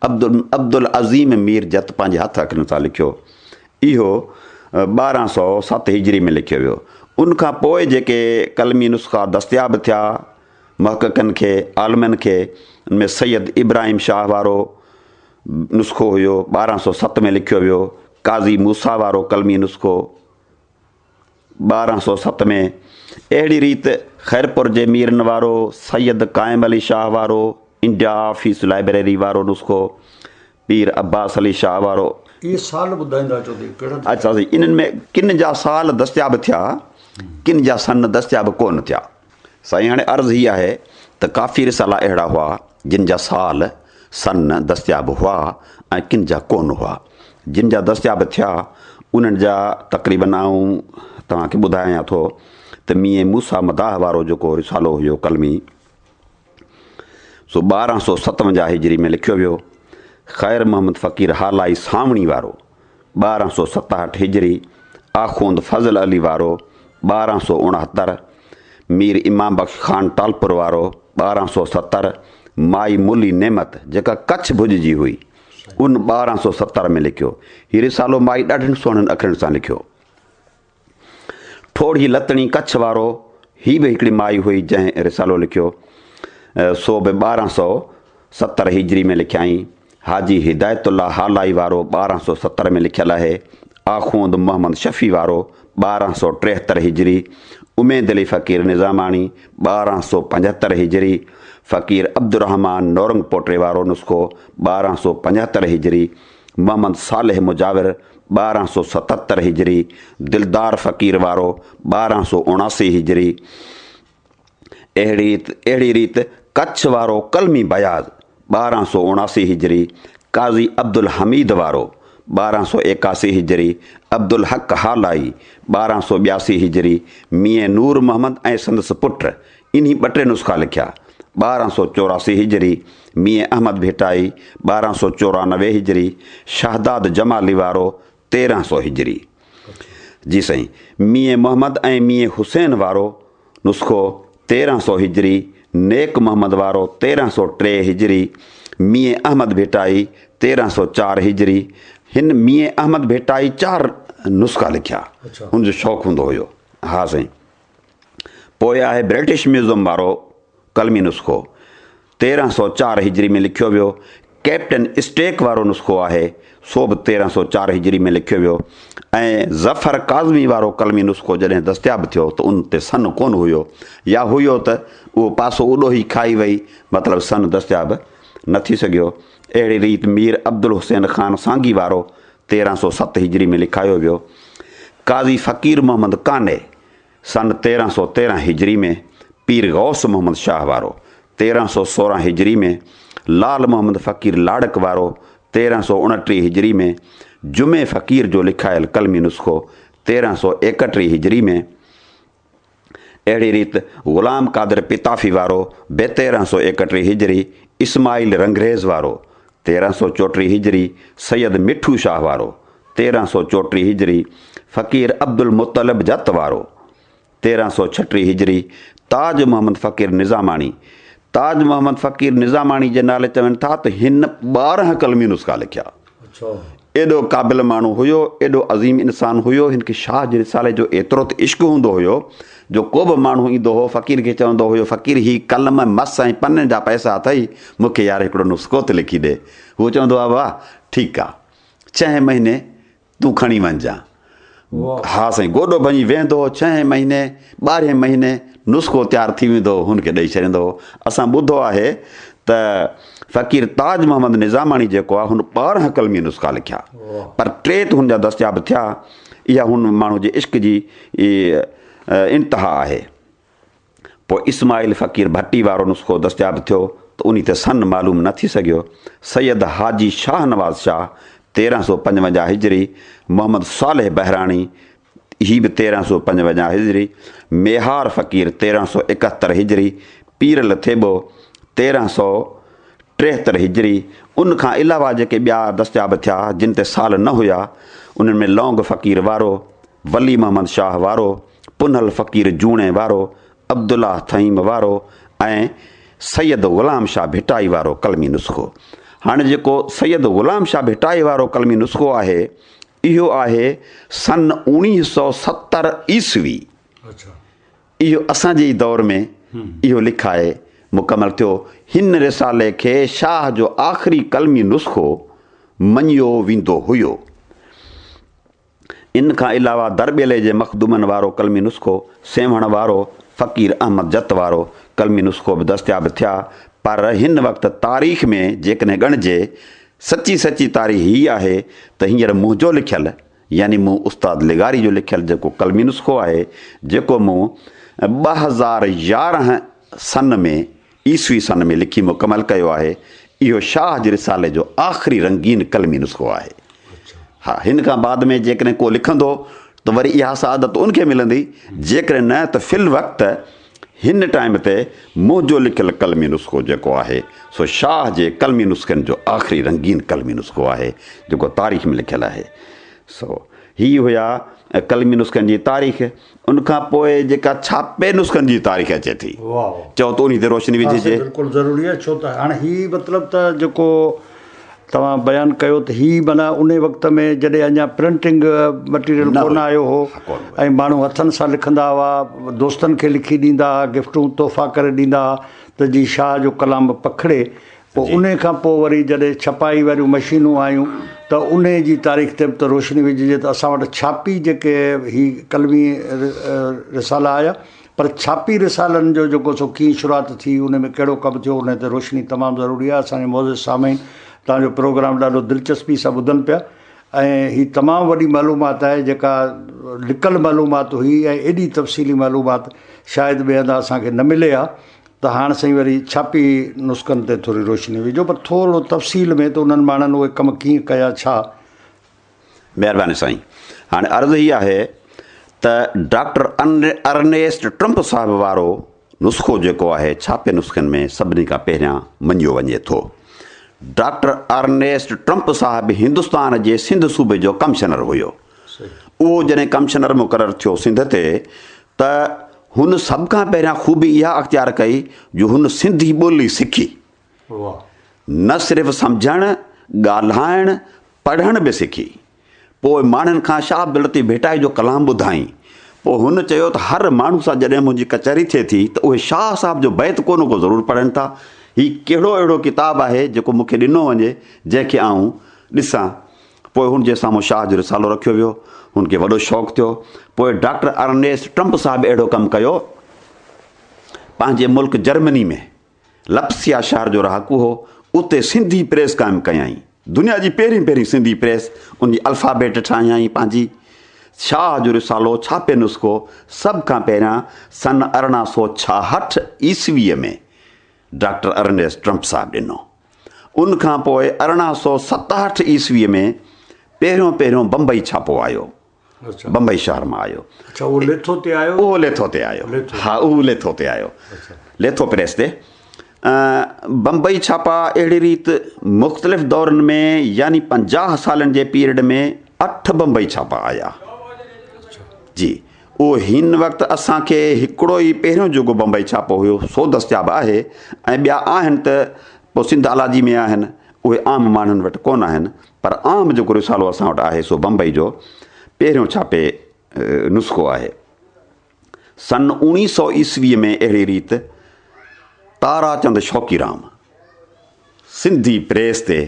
عبدالعظيم مير جت پنهنجي هٿ اکرن سان لکيو، اهو ٻارهن سؤ ست هجري ۾ لکيو ويو. ان کان پوء جيڪي قلمي نسخا دستياب ٿيا، محققن کي، عالمن کي، ان ۾ سيد ابراهيم شاهه وارو نسخو هيو، ٻارهن سؤ ست ۾ لکيو ويو، قاضي موسيٰ وارو قلمي نسخو، ٻارهن سؤ ست ۾ اهڙي ريت خيرپور جي ميرن وارو سيد قائم علي شاهه وارو انڊيا آفيس لائبريري وارو نسخو پير عباس علي شاهه وارو اهي سال ٻڌائيندا اچو ته اهي ڪهڙا ٿيا؟ اچا سائين انهن ۾ ڪن جا سال دستياب ٿيا ڪن جا سن دستياب ڪونه ٿيا. سائين هاڻي عرض هي آهي ته ڪافي رسالا اهڙا هئا جن جا سال، سن، دستياب هئا ۽ ڪن جا ڪونه هئا. جن جا دستياب ٿيا انهن جا تقريبن آئون توهان کي ٻڌايان ٿو ته ميين موسيٰ مداح وارو جيڪو رسالو هيو قلمي، سو ٻارهن سؤ ستونجاهه هجري ۾ لکيو ويو. خير محمد فقير هالائي سانوڻي وارو ٻارهن سؤ ستهٺ هجري، آخوند فضل علي وارو ٻارهن سؤ اڻهتر، مير امام بخش خان ٽالپر وارو ٻارهن سؤ ستر، مائي ملي نعمت جيڪا ڪڇ ڀڄ جي هئي ان ٻارهن سؤ ستر ۾ لکيو. هي رسالو مائي ڏاڍن سهڻن اکرن سان لکيو. ٺوڙهي لتڻي ڪڇ وارو هي به هڪڙي مائي هئي جنهن رسالو لکيو سو به ٻارهن سؤ ستر هجري ۾ لکيائين حاجي هدايت الله هالائي وارو ٻارهن سؤ ستر ۾ لکيل آهي آخوند محمد شفيع وارو ٻارهن سؤ ٽيهتر هجري اميد علي فقير نظاماڻي ٻارهن سؤ پنجهتر هجري فقير عبدالرحمان نورنگ پوٽري وارو نسخو ٻارهن سؤ پنجهتر هجري محمد صالح مجاور ٻارهن سؤ ستهتر هجري، دلدار فقير وارو ٻارهن سؤ اڻاسي هجري، اهڙي ريت ڪڇ وارو قلمي بياض ٻارهن سؤ اڻاسي هجري، قاضي عبدالحميد وارو ٻارهن سؤ ايڪاسي هجري، عبدالحق هالائي ٻارهن سؤ ٻياسي هجري، ميين نور محمد ۽ سندس پٽ انهي ٻه ٽي نسخا لکيا. ٻارهن سؤ چوراسي هجري، ميين احمد ڀيٽائي، ٻارهن سؤ چورانوي هجري، شهداد جمالي وارو تيرهن سؤ هجري. جي سائين. ميين محمد ۽ ميين حسين وارو نسخو تيرهن سؤ هجري، نيڪ محمد وارو تيرهن سؤ ٽي هجري، ميين احمد ڀيٽائي تيرهن سؤ چار هجري. هن ميين احمد ڀيٽائي چار نسخا لکيا. هن جو شوق هوندو هيو. ها سائين. پوء آهي برٽش ميوزم وارو قلمي نسخو، تيرهن سؤ چار هجري ۾ لکيو ويو، ڪئپٽن اسٽيڪ وارو نسخو آهي، سو به تيرهن سؤ چار هجري ۾ لکيو ويو ۽ ظفر ڪاظمي وارو قلمي نسخو جڏهن دستياب ٿيو ته ان تي سن ڪونه هيو يا هيو ته اهو پاسو اڏوهي کائي وئي مطلب سن دستياب نه ٿي سگهيو. اهڙي ريت مير عبدالحسين خان سانگي وارو تيرهن سؤ ست هجري ۾ لکايو ويو. قاضي فقير محمد قانع سن تيرهن سؤ تيرهن هجري ۾ پير غوث محمد شاهه وارو، تيرهن سؤ سورهن هجري ۾ لعل محمد فقير لاڙڪ وارو، تيرهن سؤ اڻٽيهه هجري ۾ جمعي فقير جو لکايل قلمي نسخو، تيرهن سؤ ايڪٽيهه هجري ۾. اهڙي ريت غلام قادر پتافي وارو به تيرهن سؤ ايڪٽيهه هجري، اسماعيل رنگريز وارو تيرهن سؤ چوٽيهه هجري، سيد مٺو شاهه وارو تيرهن سؤ چوٽيهه هجري، فقير عبدالمطلب جت وارو تيرهن سؤ ڇٽيهه هجري، تاج محمد فقير نظاماڻي، تاج محمد فقير نظاماڻي جي نالي چون ٿا ته هن ٻارهن قلمي نسخا لکيا. ايڏو قابل ماڻهو هيو، ايڏو عظيم انسان هيو، هن کي شاهه جي رسالي جو ايترو ته عشق هوندو هيو جو ڪو به ماڻهو ايندو هو فقير کي چوندو هيو فقير هي قلم، مس ۽ پنن جا پئسا اٿئي مون کي يار هڪڙو نسخو ته لکي ڏي. هو چوندو هو واه ٺيڪ آ ڇهين مهيني تون کڻي وڃجان. ها سائين گوڏو ڀڃي ويهندو هو ڇهين مهيني ٻارهين مهيني نسخو تيار ٿي ويندو هو هن کي ڏئي ڇڏيندو هو اسان ٻڌو آهي ته فقير تاج محمد نظاماڻي جيڪو آهي هن ٻارهن قلمي نسخا لکيا پر ٽي ته هن جا دستياب ٿيا اها هن ماڻهو جي عشق جي انتها آهي پوء اسماعيل فقير ڀٽي وارو نسخو دستياب ٿيو ته انهي تي سن معلوم نه ٿي سگهيو. سيد حاجي شاهنواز شاهه، تيرهن سؤ پنجونجاهه هجري، محمد صالح بهراڻي، هي به تيرهن سؤ پنجونجاهه هجري، ميهار فقير، تيرهن سؤ ايڪهتر هجري، پير لٿيٻو، تيرهن سؤ ٽيهتر هجري، ان کان علاوه جيڪي ٻيا دستياب ٿيا، جن تي سال نه هيا، انهن ۾ لونگ فقير وارو، ولي محمد شاهه وارو، پنهل فقير جوڻي وارو، عبدالله ٿهيم وارو ۽ سيد غلام شاهه ڀٽائي وارو قلمي نسخو. هاڻي جيڪو سيد غلام شاهه ڀٽائي وارو قلمي نسخو آهي، اهو آهي سن اوڻيهه سؤ ستر عيسوي. اهو اسان جي ئي دور ۾ اهو لکائي مڪمل ٿيو. هن رسالي کي شاهه جو آخري قلمي نسخو مڃيو ويندو هيو. ان کان علاوه درٻيلي جي مخدومن وارو قلمي نسخو، سيوهڻ وارو، فقير احمد جت وارو قلمي نسخو به دستياب ٿيا، پر هن وقت تاريخ ۾ جيڪڏهن ڳڻجي، سچي سچي تاريخ هيء آهي ته هينئر منهنجو لکيل يعني مون استاد لغاري جو لکيل جيڪو قلمي نسخو آهي، جيڪو مون ٻه هزار يارهن سن ۾ عيسوي سن ۾ لکي مڪمل ڪيو آهي. اهو شاهه جي رسالي جو آخري رنگين قلمي نسخو آهي. ها، هن کان بعد ۾ جيڪڏهن ڪو لکندو ته وري اها سعادت ان کي ملندي، جيڪڏهن نه ته في الوقت هن ٽائيم تي منهنجو لکيل قلمي نسخو جيڪو آهي، سو شاهه جي قلمي نسخن جو آخري رنگين قلمي نسخو آهي، جيڪو تاريخ ۾ لکيل آهي. سو هي هيا قلمي نسخن جي تاريخ. ان کان پوء جيڪا ڇاپي نسخن جي تاريخ اچي ٿي چئو ته انهي تي روشني وجهجي. ها سائين بلڪل ضروري آهي ڇو ته هاڻي هي مطلب ته جيڪو توهان بيان ڪيو ته هي معنيٰ انهي وقت ۾ جڏهن اڃا پرنٽنگ مٽيريل ڪونه آيو هو ۽ ماڻهو هٿن سان لکندا هئا دوستن کي لکي ڏيندا هئا گفٽون تحفا ڪري ڏيندا هئا ته جي شاهه جو ڪلام پکڙي پوء انهيء کان پوء وري جڏهن ڇپائي واريون مشينون آيون ته انهيء جي تاريخ تي به ته روشني وجهجي ته اسان وٽ ڇاپي جيڪي هي قلمي رسالا آيا پر ڇاپي رسالن جو جيڪو سو ڪيئن شروعات ٿي انهيء ۾ ڪهڙو ڪم ٿيو انهيء تي روشني تمام ضروري آهي اسان جي معزز سامعين توهان جو پروگرام ڏاڍو دلچسپي سان ٻڌن پيا ۽ هي تمام وڏي معلومات آهي جيڪا لڪل معلومات هئي ۽ ايڏي تفصيلي معلومات شايد ٻئي هنڌان اسان کي نه ملي ها ته هاڻ سائين وري ڇاپي نسخن تي ٿوري روشني وجهو پر ٿورڙو تفصيل ۾ ته انهن ماڻهن اهي ڪم ڪيئن ڪيا ڇا؟ مهرباني سائين هاڻي عرض هي آهي ته ڊاڪٽر ارنيسٽ ٽرمپ صاحب وارو نسخو جيڪو آهي ڇاپي نسخن ۾ سڀني کان پهريان مڃيو وڃي ٿو ڊاڪٽر ارنيسٽ ٽرمپ صاحب هندستان جي سنڌ صوبي جو ڪمشنر هيو. اهو جڏهن ڪمشنر مقرر ٿيو سنڌ تي ته هن سڀ کان پهريان خوبي اها اختيار ڪئي جو هن سنڌي ٻولي سکي. نه صرف سمجهڻ، ڳالهائڻ، پڙهڻ به سکي. پوء ماڻهن کان شاهه عبداللطيف ڀٽائي جو ڪلام ٻڌائين. پوء هن چيو ته هر ماڻهو سان جڏهن منهنجي ڪچهري ٿئي ٿي ته اهي شاهه صاحب جو بيت ڪو نه ڪو ضرور پڙهن ٿا. هي ڪهڙو اهڙو ڪتاب آهي جيڪو مون کي ڏنو وڃي جنهن کي آئون ڏسان. پوء هن جي سامهون شاهه جو رسالو رکيو ويو. هن کي وڏو شوق ٿيو. پوء ڊاڪٽر ارنيسٽ ٽرمپ صاحب اهڙو ڪم ڪيو. پنهنجي ملڪ جرمني ۾ لپسيا شهر جو رهاڪو هو. اتي سنڌي پريس قائم ڪيائين. دنيا جي پهرين پهرين سنڌي پريس، ان جي الفابيٽ ٺاهيائين پنهنجي. شاهه جو رسالو ڇاپي نسخو سڀ کان پهريان سن ارڙهن سؤ ڇاهٺ عيسويء ۾ ڊاڪٽر ارنيسٽ ٽرمپ صاحب ڏنو. ان کان پوء ارڙهن سؤ ستهٺ عيسويء ۾ پهريون پهريون بمبئي ڇاپو آيو. بمبئي شهر مان آيو. اڇا اهو ليٿو تي آيو؟ اهو ليٿو تي آيو. ها اهو ليٿو تي آيو. ليٿو پريس تي. بمبئي ڇاپا اهڙي ريت مختلف دورن ۾ يعني پنجاهه سالن جي پيريڊ ۾ اٺ بمبئي ڇاپا آيا. جي. اهو هن وقت اسان کي هڪڙو ئي پهريون جوڳو بمبئي ڇاپو هيو سو دستياب آهي ۽ ٻيا آهن ته پوء سنڌ الاجي ۾ آهن اهي عام ماڻهن وٽ ڪونه آهن پر عام جيڪو رسالو اسان وٽ آهي سو بمبئي جو پهريون ڇاپي نسخو آهي سن اوڻي سو عيسوي ۾ اهڙي ريت تاراچند شوقي رام سنڌي پريس تي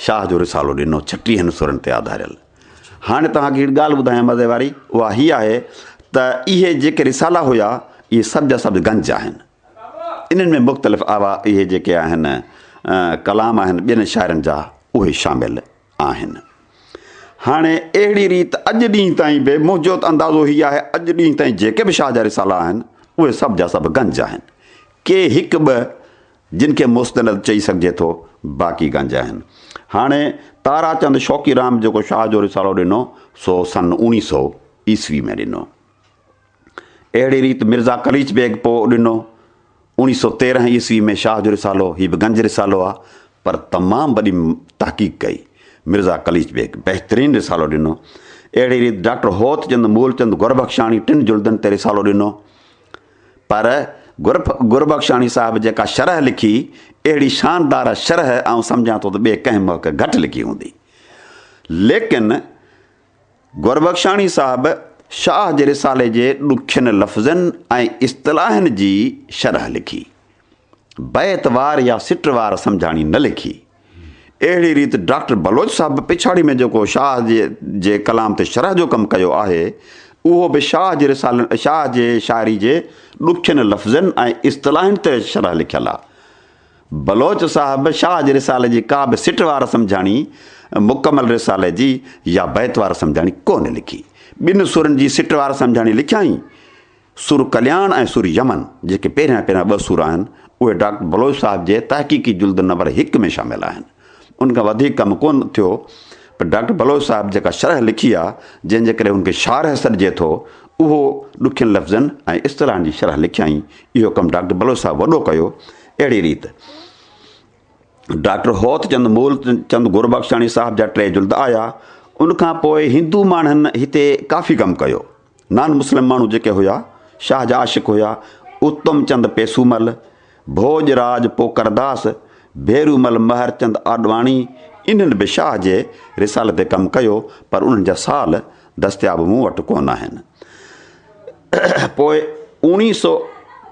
شاهه جو رسالو ڏنو ڇٽيهن سرن تي آڌاريل. هاڻي توهان کي هڪڙي ڳالهه ٻڌايان مزي واري، اها هيء آهي ته اهي جيڪي رسالا هيا، اهي سڀ جا سڀ گنج آهن. انهن ۾ مختلف آوا اهي جيڪي آهن، ڪلام آهن ٻين شاعرن جا، اهي شامل آهن. هاڻي اهڙي ريت اڄ ڏينهن تائين به منهنجو ته اندازو هيء آهي، اڄ ڏينهن تائين جيڪي به شاهه جا رسالا آهن، اهي سڀ جا سڀ گنج آهن. ڪي هڪ ٻه جن کي مستند چئي سگهجي ٿو، باقي گنج آهن. هاڻي تاراچند شوقي رام جيڪو شاهه جو رسالو ڏنو، سو سن اوڻي سو عيسوي ۾ ڏنو. اهڙي ريت مرزا قليچ بيگ پوء ڏنو، اوڻي سو تيرنهن عيسوي ۾ شاهه جو رسالو، هي به گنج رسالو آ، پر تمام وڏي تحقيق ڪئي، مرزا قليچ بيگ بهترين رسالو ڏنو. اهڙي ريت ڊاڪٽر هوت چند مولچند گربخشاڻي ٽن جلدن تي رسالو ڏنو. پر گربخشاڻي صاحب جيڪا شرح لکي، اهڙي شاندار شرح آئون سمجهان ٿو ته ٻئي ڪنهن مهڪ گهٽ لکي هوندي. ليڪن گربخشاڻي صاحب شاهه جي رسالي جي ڏکين لفظن ۽ اصطلاحن جي شرح لکي. بيت وار يا سٽ وار سمجهاڻي نه لکي. اهڙي ريت ڊاڪٽر بلوچ صاحب به پڇاڙي ۾ جيڪو شاهه جي ڪلام تي شرح جو ڪم ڪيو آهي، اهو به شاهه جي رسالن شاهه جي شاعري جي ڏکين لفظن ۽ اصطلاحن تي شرح لکيل آ. بلوچ صاحب شاهه جي رسالي جي ڪا به سٽ وار سمجهاڻي مڪمل رسالي جي يا بيت وار سمجهاڻي ڪونه لکي. ٻن سرن جي سٽ وار سمجهاڻي لکيائين. سر ڪلياڻ ۽ سر يمن جيڪي پهريان پهريان ٻه سر آهن، اهي ڊاڪٽر بلوچ صاحب جي تحقيقي جلد نمبر هڪ ۾ شامل آهن. ان کان وڌيڪ ڪم ڪو نه ٿيو، پر ڊاڪٽر بلوچ صاحب جيڪا شرح لکي آهي، جنهن جي ڪري هن کي شارح سڏجي ٿو، اهو ڏکين لفظن ۽ اصطلاحن جي شرح لکيائين، اهو ڪم ڊاڪٽر بلوچ صاحب وڏو ڪيو. اهڙيء ريت ڊاڪٽر هوت چند مول چند گربخشاڻي صاحب جا ٽي جلد آيا. ان کان پوء هندو ماڻهن هتي ڪافي ڪم ڪيو. نان مسلم ماڻهو جيڪي هيا، شاهه جا عاشق هيا، اتم چند پيسومل، ڀوڄ راڄ پوڪرداس، ڀيرومل مهرچند آڏواڻي، انهن به شاهه جي رسالي تي ڪم ڪيو، پر انهن جا سال دستياب مون وٽ ڪونه آهن. پوء اوڻيهه سؤ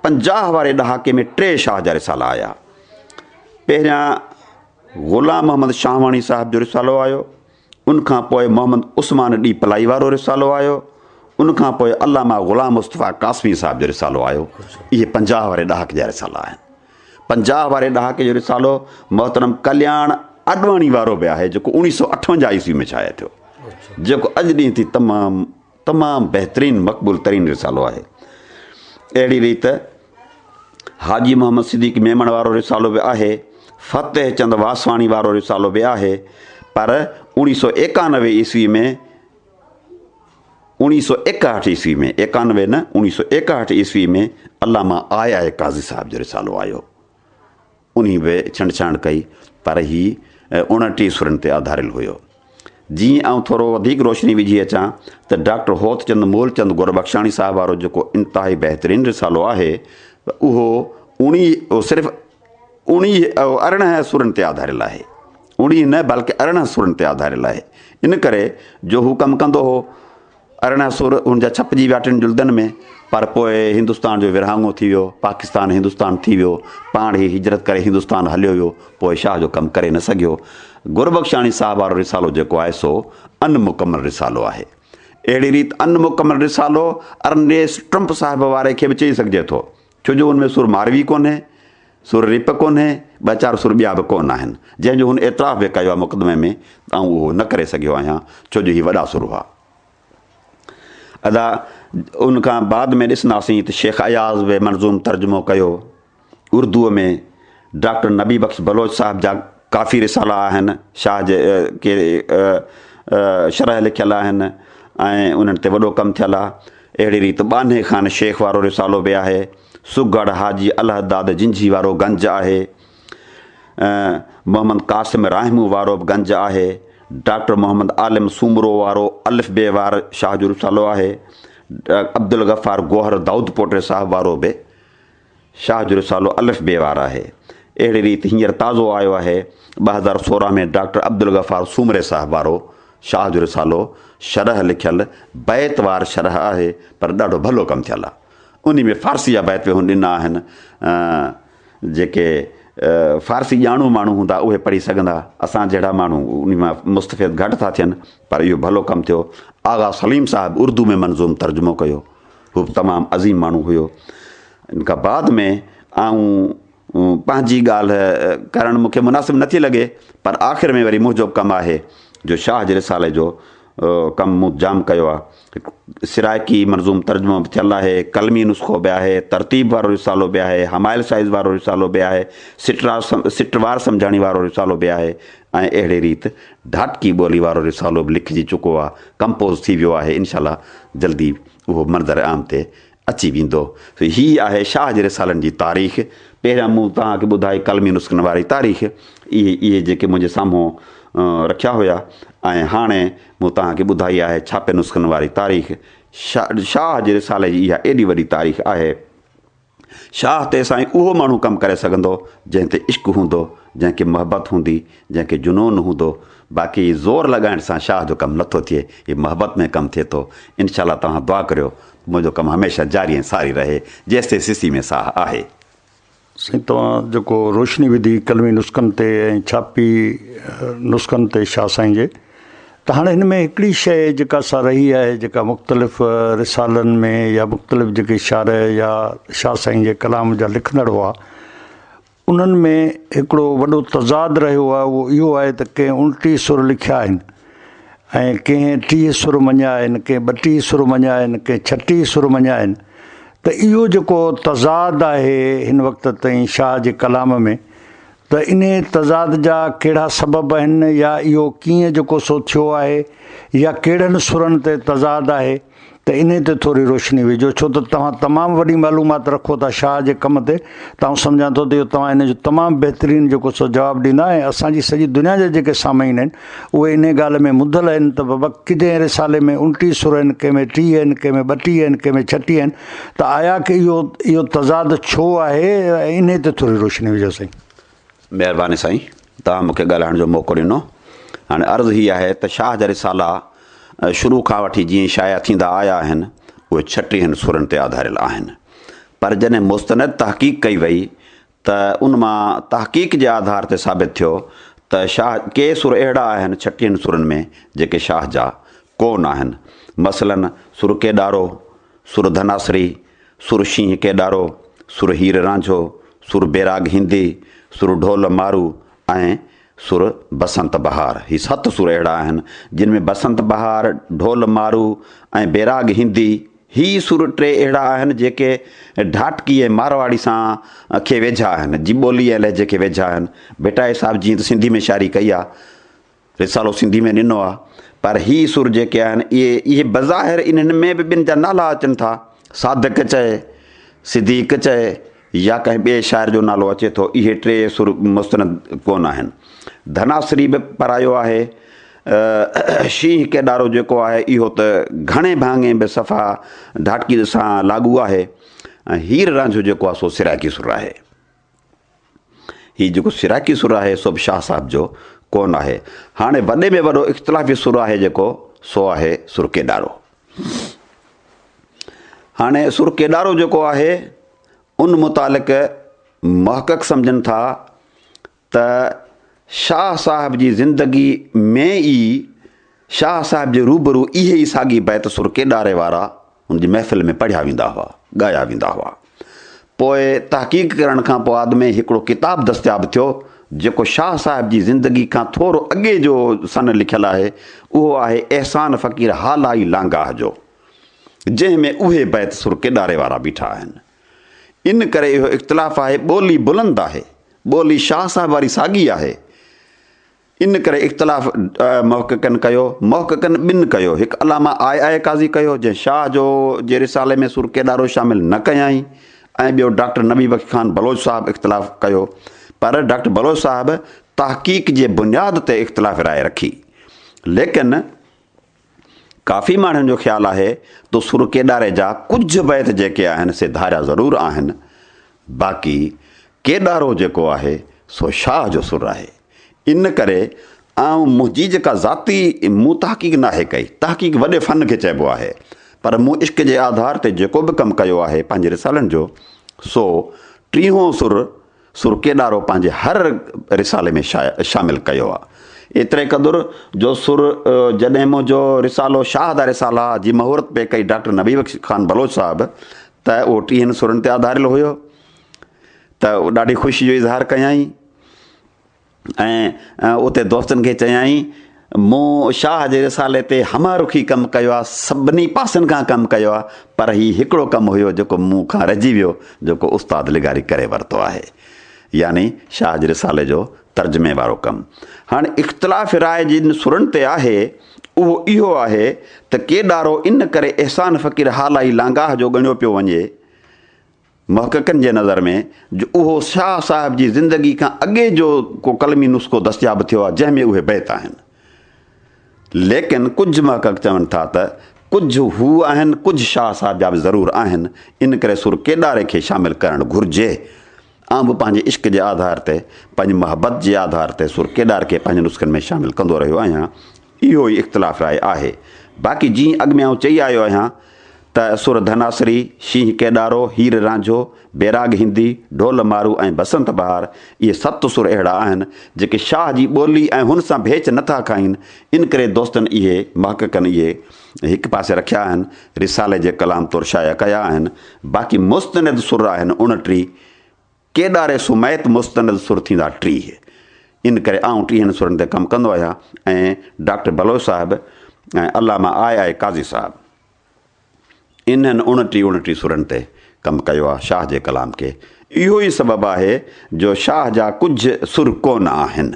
پنجاهه واري ڏهاڪي ۾ ٽي شاهه جا رسالا آيا. پهريان غلام محمد شاهواڻي صاحب جو رسالو آيو. ان کان پوء محمد عثمان ڏي پلائي وارو رسالو آيو، ان کان پوء علامه غلام مصطفيٰ قاسمي صاحب جو رسالو آيو، اهي پنجاهه واري ڏهاڪي جا رسالا آهن. پنجاهه واري ڏهاڪي جو رسالو محترم ڪلياڻ اڏواڻي وارو به آهي، جيڪو اوڻيهه سؤ اٺونجاهه عيسوي ۾ شايع ٿيو، جيڪو اڄ ڏينهن ٿي تمام تمام بهترين مقبول ترين رسالو آهي. اهڙي ريت حاجي محمد صديق ميمڻ وارو رسالو به آهي، فتح چند واسواڻي وارو رسالو به آهي پر اوڻي سو ايڪانوي عيسوي ۾ اوڻي سو ايڪهٺ عيسوي ۾ ايڪانوي نه اوڻي سو ايڪهٺ عيسوي ۾ علامه آء آء قاضي صاحب جو رسالو آيو. انهي به ڇنڊڇاڻ ڪئي، پر هي اوڻٽيهه سرن تي آڌاريل هيو. جيئن ئي آئون ٿورو وڌيڪ روشني وجهي اچان ته ڊاڪٽر هوتچند مولچند گربخشاڻي صاحب وارو جيڪو انتهائي بهترين رسالو آهي، اهو اوڻيهه، صرف اوڻيهه، ارڙهن سرن تي آڌاريل آهي. اوڻيهه نه، بلڪ ارڙهن سرن تي آڌاريل آهي. ان ڪري جو هو ڪم ڪندو هو. ارڙهن سور ان جا ڇپجي ويا ٽن جلدن ۾، پر پوء هندستان جو ورهاڱو ٿي ويو، پاڪستان هندستان ٿي ويو، پاڻ هي هجرت ڪري هندستان هليو ويو، پوء شاهه جو ڪم ڪري نه سگهيو. گربخشاڻي صاحب وارو رسالو جيڪو آهي سو ان مڪمل رسالو آهي. اهڙي ريت ان مڪمل رسالو ارنيسٽ ٽرمپ صاحب واري کي به چئي سگهجي ٿو. ڇو جو ان ۾ سر ماروي ڪونهي، سر ريپ ڪونهي، ٻه چار سر ٻيا به ڪونه آهن، جنهن جو هن اعتراف به ڪيو آهي مقدمي ۾ ته آئون اهو نه ڪري سگهيو آهيان، ڇو جو هي وڏا سر هئا. ادا ان کان بعد ۾ ڏسنداسين ته شيخ اياز به منظوم ترجمو ڪيو اردوء ۾ ڊاڪٽر نبي بخش بلوچ صاحب جا ڪافي رسالا آهن شاهه جي ڪي شرح لکيل آهن ۽ انهن تي وڏو ڪم ٿيل آهي. اهڙي ريت ٻانهي خان شيخ وارو رسالو به آهي. سگهڙ حاجي الهداد جنجهي وارو گنج آهي. محمد قاسم راهمون وارو به گنج آهي. ڊاڪٽر محمد عالم سومرو وارو الف بي وار شاهه جو رسالو آهي. عبدالغفار گوهر دائودپوٽي صاحب وارو به شاهه جو رسالو الف بي وار آهي. اهڙي ريت هينئر تازو آيو آهي ٻه هزار سورهن ۾ ڊاڪٽر عبدالغفار سومري صاحب وارو شاهه جو رسالو شرح لکيل بيت وار شرح آهي پر ڏاڍو ڀلو ڪم ٿيل آهي. انهي ۾ فارسي جا بيت به هن ڏنا آهن جيڪي فارسي ڄاڻو ماڻهو هوندا اهي پڙهي سگهندا اسان جهڙا ماڻهو انهي مان مستفيد گهٽ ٿا ٿين پر اهو ڀلو ڪم ٿيو. آغا سليم صاحب اردو ۾ منظوم ترجمو ڪيو. هو به تمام عظيم ماڻهو هيو. ان کان بعد ۾ آئون پنهنجي ڳالهه ڪرڻ مون کي مناسب نٿي لڳي پر آخر ۾ وري منهنجو ڪم آهي جو شاهه جي رسالي جو ڪم مون جام ڪيو آ. هڪ سرائڪي منظوم ترجمو به ٿيل آهي، قلمي نسخو به آهي، ترتيب وارو رسالو به آهي، همايل سائيز وارو رسالو به آهي، سٽ وار سمجهاڻي وارو رسالو به آهي ۽ اهڙي ريت ڍاٽڪي ٻولي وارو رسالو به لکجي چڪو آ، ڪمپوز ٿي ويو آهي، انشاء الله جلدي اهو منظر عام تي اچي ويندو. هي آهي شاهه جي رسالن جي تاريخ. پهريان مون توهان کي ٻڌائي قلمي نسخن واري تاريخ. اهي اهي جيڪي منهنجي سامهون رکيا هيا ۽ هاڻي مون توهان کي ٻڌائي آهي ڇاپي نسخن واري تاريخ. شاهه جي رسالي جي اها ايڏي وڏي تاريخ آهي. شاهه تي سائين اهو ماڻهو ڪم ڪري سگهندو جنهن تي عشق هوندو جنهن کي محبت هوندي جنهن کي جنون هوندو باقي هي زور لڳائڻ سان شاهه جو ڪم نٿو ٿئي هي محبت ۾ ڪم ٿئي ٿو انشاء الله توهان دعا ڪريو ته منهنجو ڪم هميشه جاري ۽ ساري رهي جيستائين سسي ۾ ساهه آهي. سائين توهان جيڪو روشني وڌي قلمي نسخن تي ۽ ڇاپي نسخن تي شاهه سائين جي. ته هاڻي هن ۾ هڪڙي شيء جيڪا سا رهي آهي جيڪا مختلف رسالن ۾ يا مختلف جيڪي شارع يا شاهه سائين جي ڪلام جا لکندڙ هئا انهن ۾ هڪڙو وڏو تضاد رهيو آهي اهو اهو آهي ته ڪنهن الٽي سر لکيا آهن ۽ ڪنهن ٽيهه سر مڃيا آهن ڪنهن ٻٽيهه سر مڃيا آهن ڪنهن ڇٽيهه سر مڃيا آهن ته اهو جيڪو تضاد آهي هن وقت تائين شاهه جي ڪلام ۾ ته انهيء تضاد جا ڪهڙا سبب آهن يا اهو ڪيئن جو ڪوسو ٿيو آهي يا ڪهڙن سرن تي تضاد آهي ته انهيء تي ٿوري روشني وجهو ڇو ته توهان تمام وڏي معلومات رکو ٿا شاهه جي ڪم تي ته آئون سمجهان ٿو ته اهو توهان ان جو تمام بهترين جو ڪوسو جواب ڏيندا ۽ اسان جي سڄي دنيا جا جيڪي سامعين آهن اهي انهيء ڳالهه ۾ مدل آهن ته ببڪ ڪيدين رسالي ۾ انٽيهه سر آهن، ڪنهن ۾ ٽيهه آهن، ڪنهن ۾ ٻٽيهه آهن، ڪنهن ۾ ڇٽيهه آهن، ته آيا ڪي اهو اهو تضاد ڇو آهي؟ ۽ انهيء تي ٿوري روشني وجهو سائين. مهرباني سائين توهان مون کي ڳالهائڻ جو موقعو ڏنو. هاڻي عرض هي آهي ته شاهه جا رسالا شروع کان وٺي جيئن شايع ٿيندا آيا آهن اهي ڇٽيهن سرن تي آڌاريل آهن پر جڏهن مستند تحقيق ڪئي وئي ته ان مان تحقيق جي آڌار تي ثابت ٿيو ته شاهه ڪي سر اهڙا آهن ڇٽين سرن ۾ جيڪي شاهه جا ڪو نه آهن مثلاً سر ڪيڏارو، سر ڌناسري، سر شينهن ڪيڏارو، سر هير رانجهو، سر بيراڳ هندي، سر ڍول مارو ۽ سر، بسنت بهار، هي ست سر اهڙا آهن، جن ۾ بسنت بهار، ڍول مارو ۽ بيراڳ هندي، هي سر ٽي اهڙا آهن، جيڪي ڍاٽڪي ۽ مارواڙي سان کي ويجها آهن، جي ٻولي ۽ لهجي کي ويجها آهن. ڀٽائي صاحب جيئن ته سنڌي ۾ شاعري ڪئي آ، رسالو سنڌي ۾ ڏنو آ، پر هي سر جيڪي آهن، اهي اهي بظاهر انهن ۾ به ٻن جا نالا اچن ٿا، صادق چئي، صديق چئي، يا ڪنهن ٻئي شاعر جو نالو اچي ٿو، اهي ٽي سر مستند ڪونه آهن. ڌناسري به پرايو آهي. شينهن ڪيڏارو جيڪو آهي، اهو ته گهڻي ڀاڱي به صفا ڍاٽڪيء سان لاڳو آهي ۽ هير رانجهو جيڪو آهي، سو سرائيڪي سر آهي. هي جيڪو سرائيڪي سر آهي، سو به شاهه صاحب جو ڪونه آهي. هاڻي وڏي ۾ وڏو اختلافي سر آهي جيڪو، سو آهي سر ڪيڏارو. هاڻي سر ڪيڏارو جيڪو آهي ان متعلق محقق سمجهن ٿا ته شاهه صاحب جي زندگي ۾ ئي شاهه صاحب جي روبرو اهي ئي ساڳي بيت سر ڪيڏاري وارا ان جي محفل ۾ پڙهيا ويندا هئا، ڳايا ويندا هئا. پوء تحقيق ڪرڻ کان پوء ۾ هڪڙو ڪتاب دستياب ٿيو، جيڪو شاهه صاحب جي زندگي کان ٿورو اڳي جو سن لکيل آهي، اهو آهي احسان فقير هالائي لانگاهه جو، جنهن ۾ اهي بيت سر ڪيڏاري وارا بيٺا آهن. ان ڪري اهو اختلاف آهي، ٻولي بلند آهي، ٻولي شاهه صاحب واري ساڳي آهي، ان ڪري اختلاف محققن ڪيو، محققن ٻن ڪيو، هڪ علامه آء آء قاضي ڪيو، جنهن شاهه جو جي رسالي ۾ سور ڪيڏارو شامل نه ڪيائين ۽ ٻيو ڊاڪٽر نبي بخش خان بلوچ صاحب اختلاف ڪيو پر ڊاڪٽر بلوچ صاحب تحقيق جي بنياد تي اختلاف راء رکي ليڪن ڪافي ماڻهن جو خيال آهي ته سر ڪيڏاري جا ڪجهه بيت جيڪي آهن سي ڌاريا ضرور آهن باقي ڪيڏارو جيڪو آهي سو شاهه جو سر آهي ان ڪري آئون منهنجي جيڪا ذاتي مون تحقيق ناهي ڪئي تحقيق وڏي فن کي چئبو آهي پر مون عشق جي آڌار تي جيڪو به ڪم ڪيو آهي پنهنجي رسالن جو سو ٽيهون سر سرڪيڏارو پنهنجي هر رسالي ۾ شامل ڪيو آ. ايتري قدر جو سر جڏهن منهنجو رسالو شاهه دا رسالا جي مهورت پئي ڪئي ڊاڪٽر نبي بخش خان بلوچ صاحب ته اهو ٽيهن سرن تي آڌاريل هيو ته ڏاڍي خوشي جو اظهار ڪيائين. ۽ اتي دوستن کي چيائين، مون شاهه جي رسالي تي همه رخي ڪم ڪيو آهي، سڀني پاسن کان ڪم ڪيو آهي، پر هي هڪڙو ڪم هيو جيڪو مون کان رهجي ويو، جيڪو استاد لغاري ڪري ورتو آهي. يعني شاهه جي رسالي جو ترجمي وارو ڪم. هاڻ اختلاف راء جن سرن تي آهي، اهو اهو آهي ته ڪيڏارو ان ڪري احسان فقير هالائي لانگاهه جو ڳڻيو پيو وڃي، محققن جي نظر ۾ جو اهو شاهه صاحب جي زندگي کان اڳي جو ڪو قلمي نسخو دستياب ٿيو آهي جنهن ۾ اهي بيت آهن. ليڪن ڪجهه محقق چون ٿا ته ڪجهه هو آهن ڪجهه شاهه صاحب جا به ضرور آهن ان ڪري سر ڪيڏاري کي شامل ڪرڻ گهرجي. آئون به پنهنجي عشق جي آڌار تي پنهنجي محبت جي آڌار تي سر ڪيڏارڪي پنهنجي نسخن ۾ شامل ڪندو رهيو آهيان. اهو ئي اختلاف راء آهي. باقي جيئن اڳ ۾ آئون چئي آيو آهيان ته سر ڌناسري، شينهن ڪيڏارو، هير رانجهو، بيراڳ هندي، ڍول مارو ۽ بسنت بهار اهي ست سر اهڙا آهن جيڪي شاهه جي ٻولي ۽ هن سان ڀيچ نه ٿا کائين انڪري دوستن اهي محققن اهي هڪ پاسي رکيا آهن رسالي جي ڪلام طور شايع ڪيا آهن باقي مستند سر آهن اڻٽيهه ڪيڏاري سميت مستند سر ٿيندا ٽيهه. ان ڪري آئون ٽيهن سرن تي ڪم ڪندو آهيان ۽ ڊاڪٽر بلوچ صاحب ۽ علامه آء آء قاضي صاحب انهن اڻٽيهه اڻٽيهه سرن تي ڪم ڪيو آهي شاهه جي ڪلام کي اهو ئي سبب آهي جو شاهه جا ڪجهه سر ڪونه آهن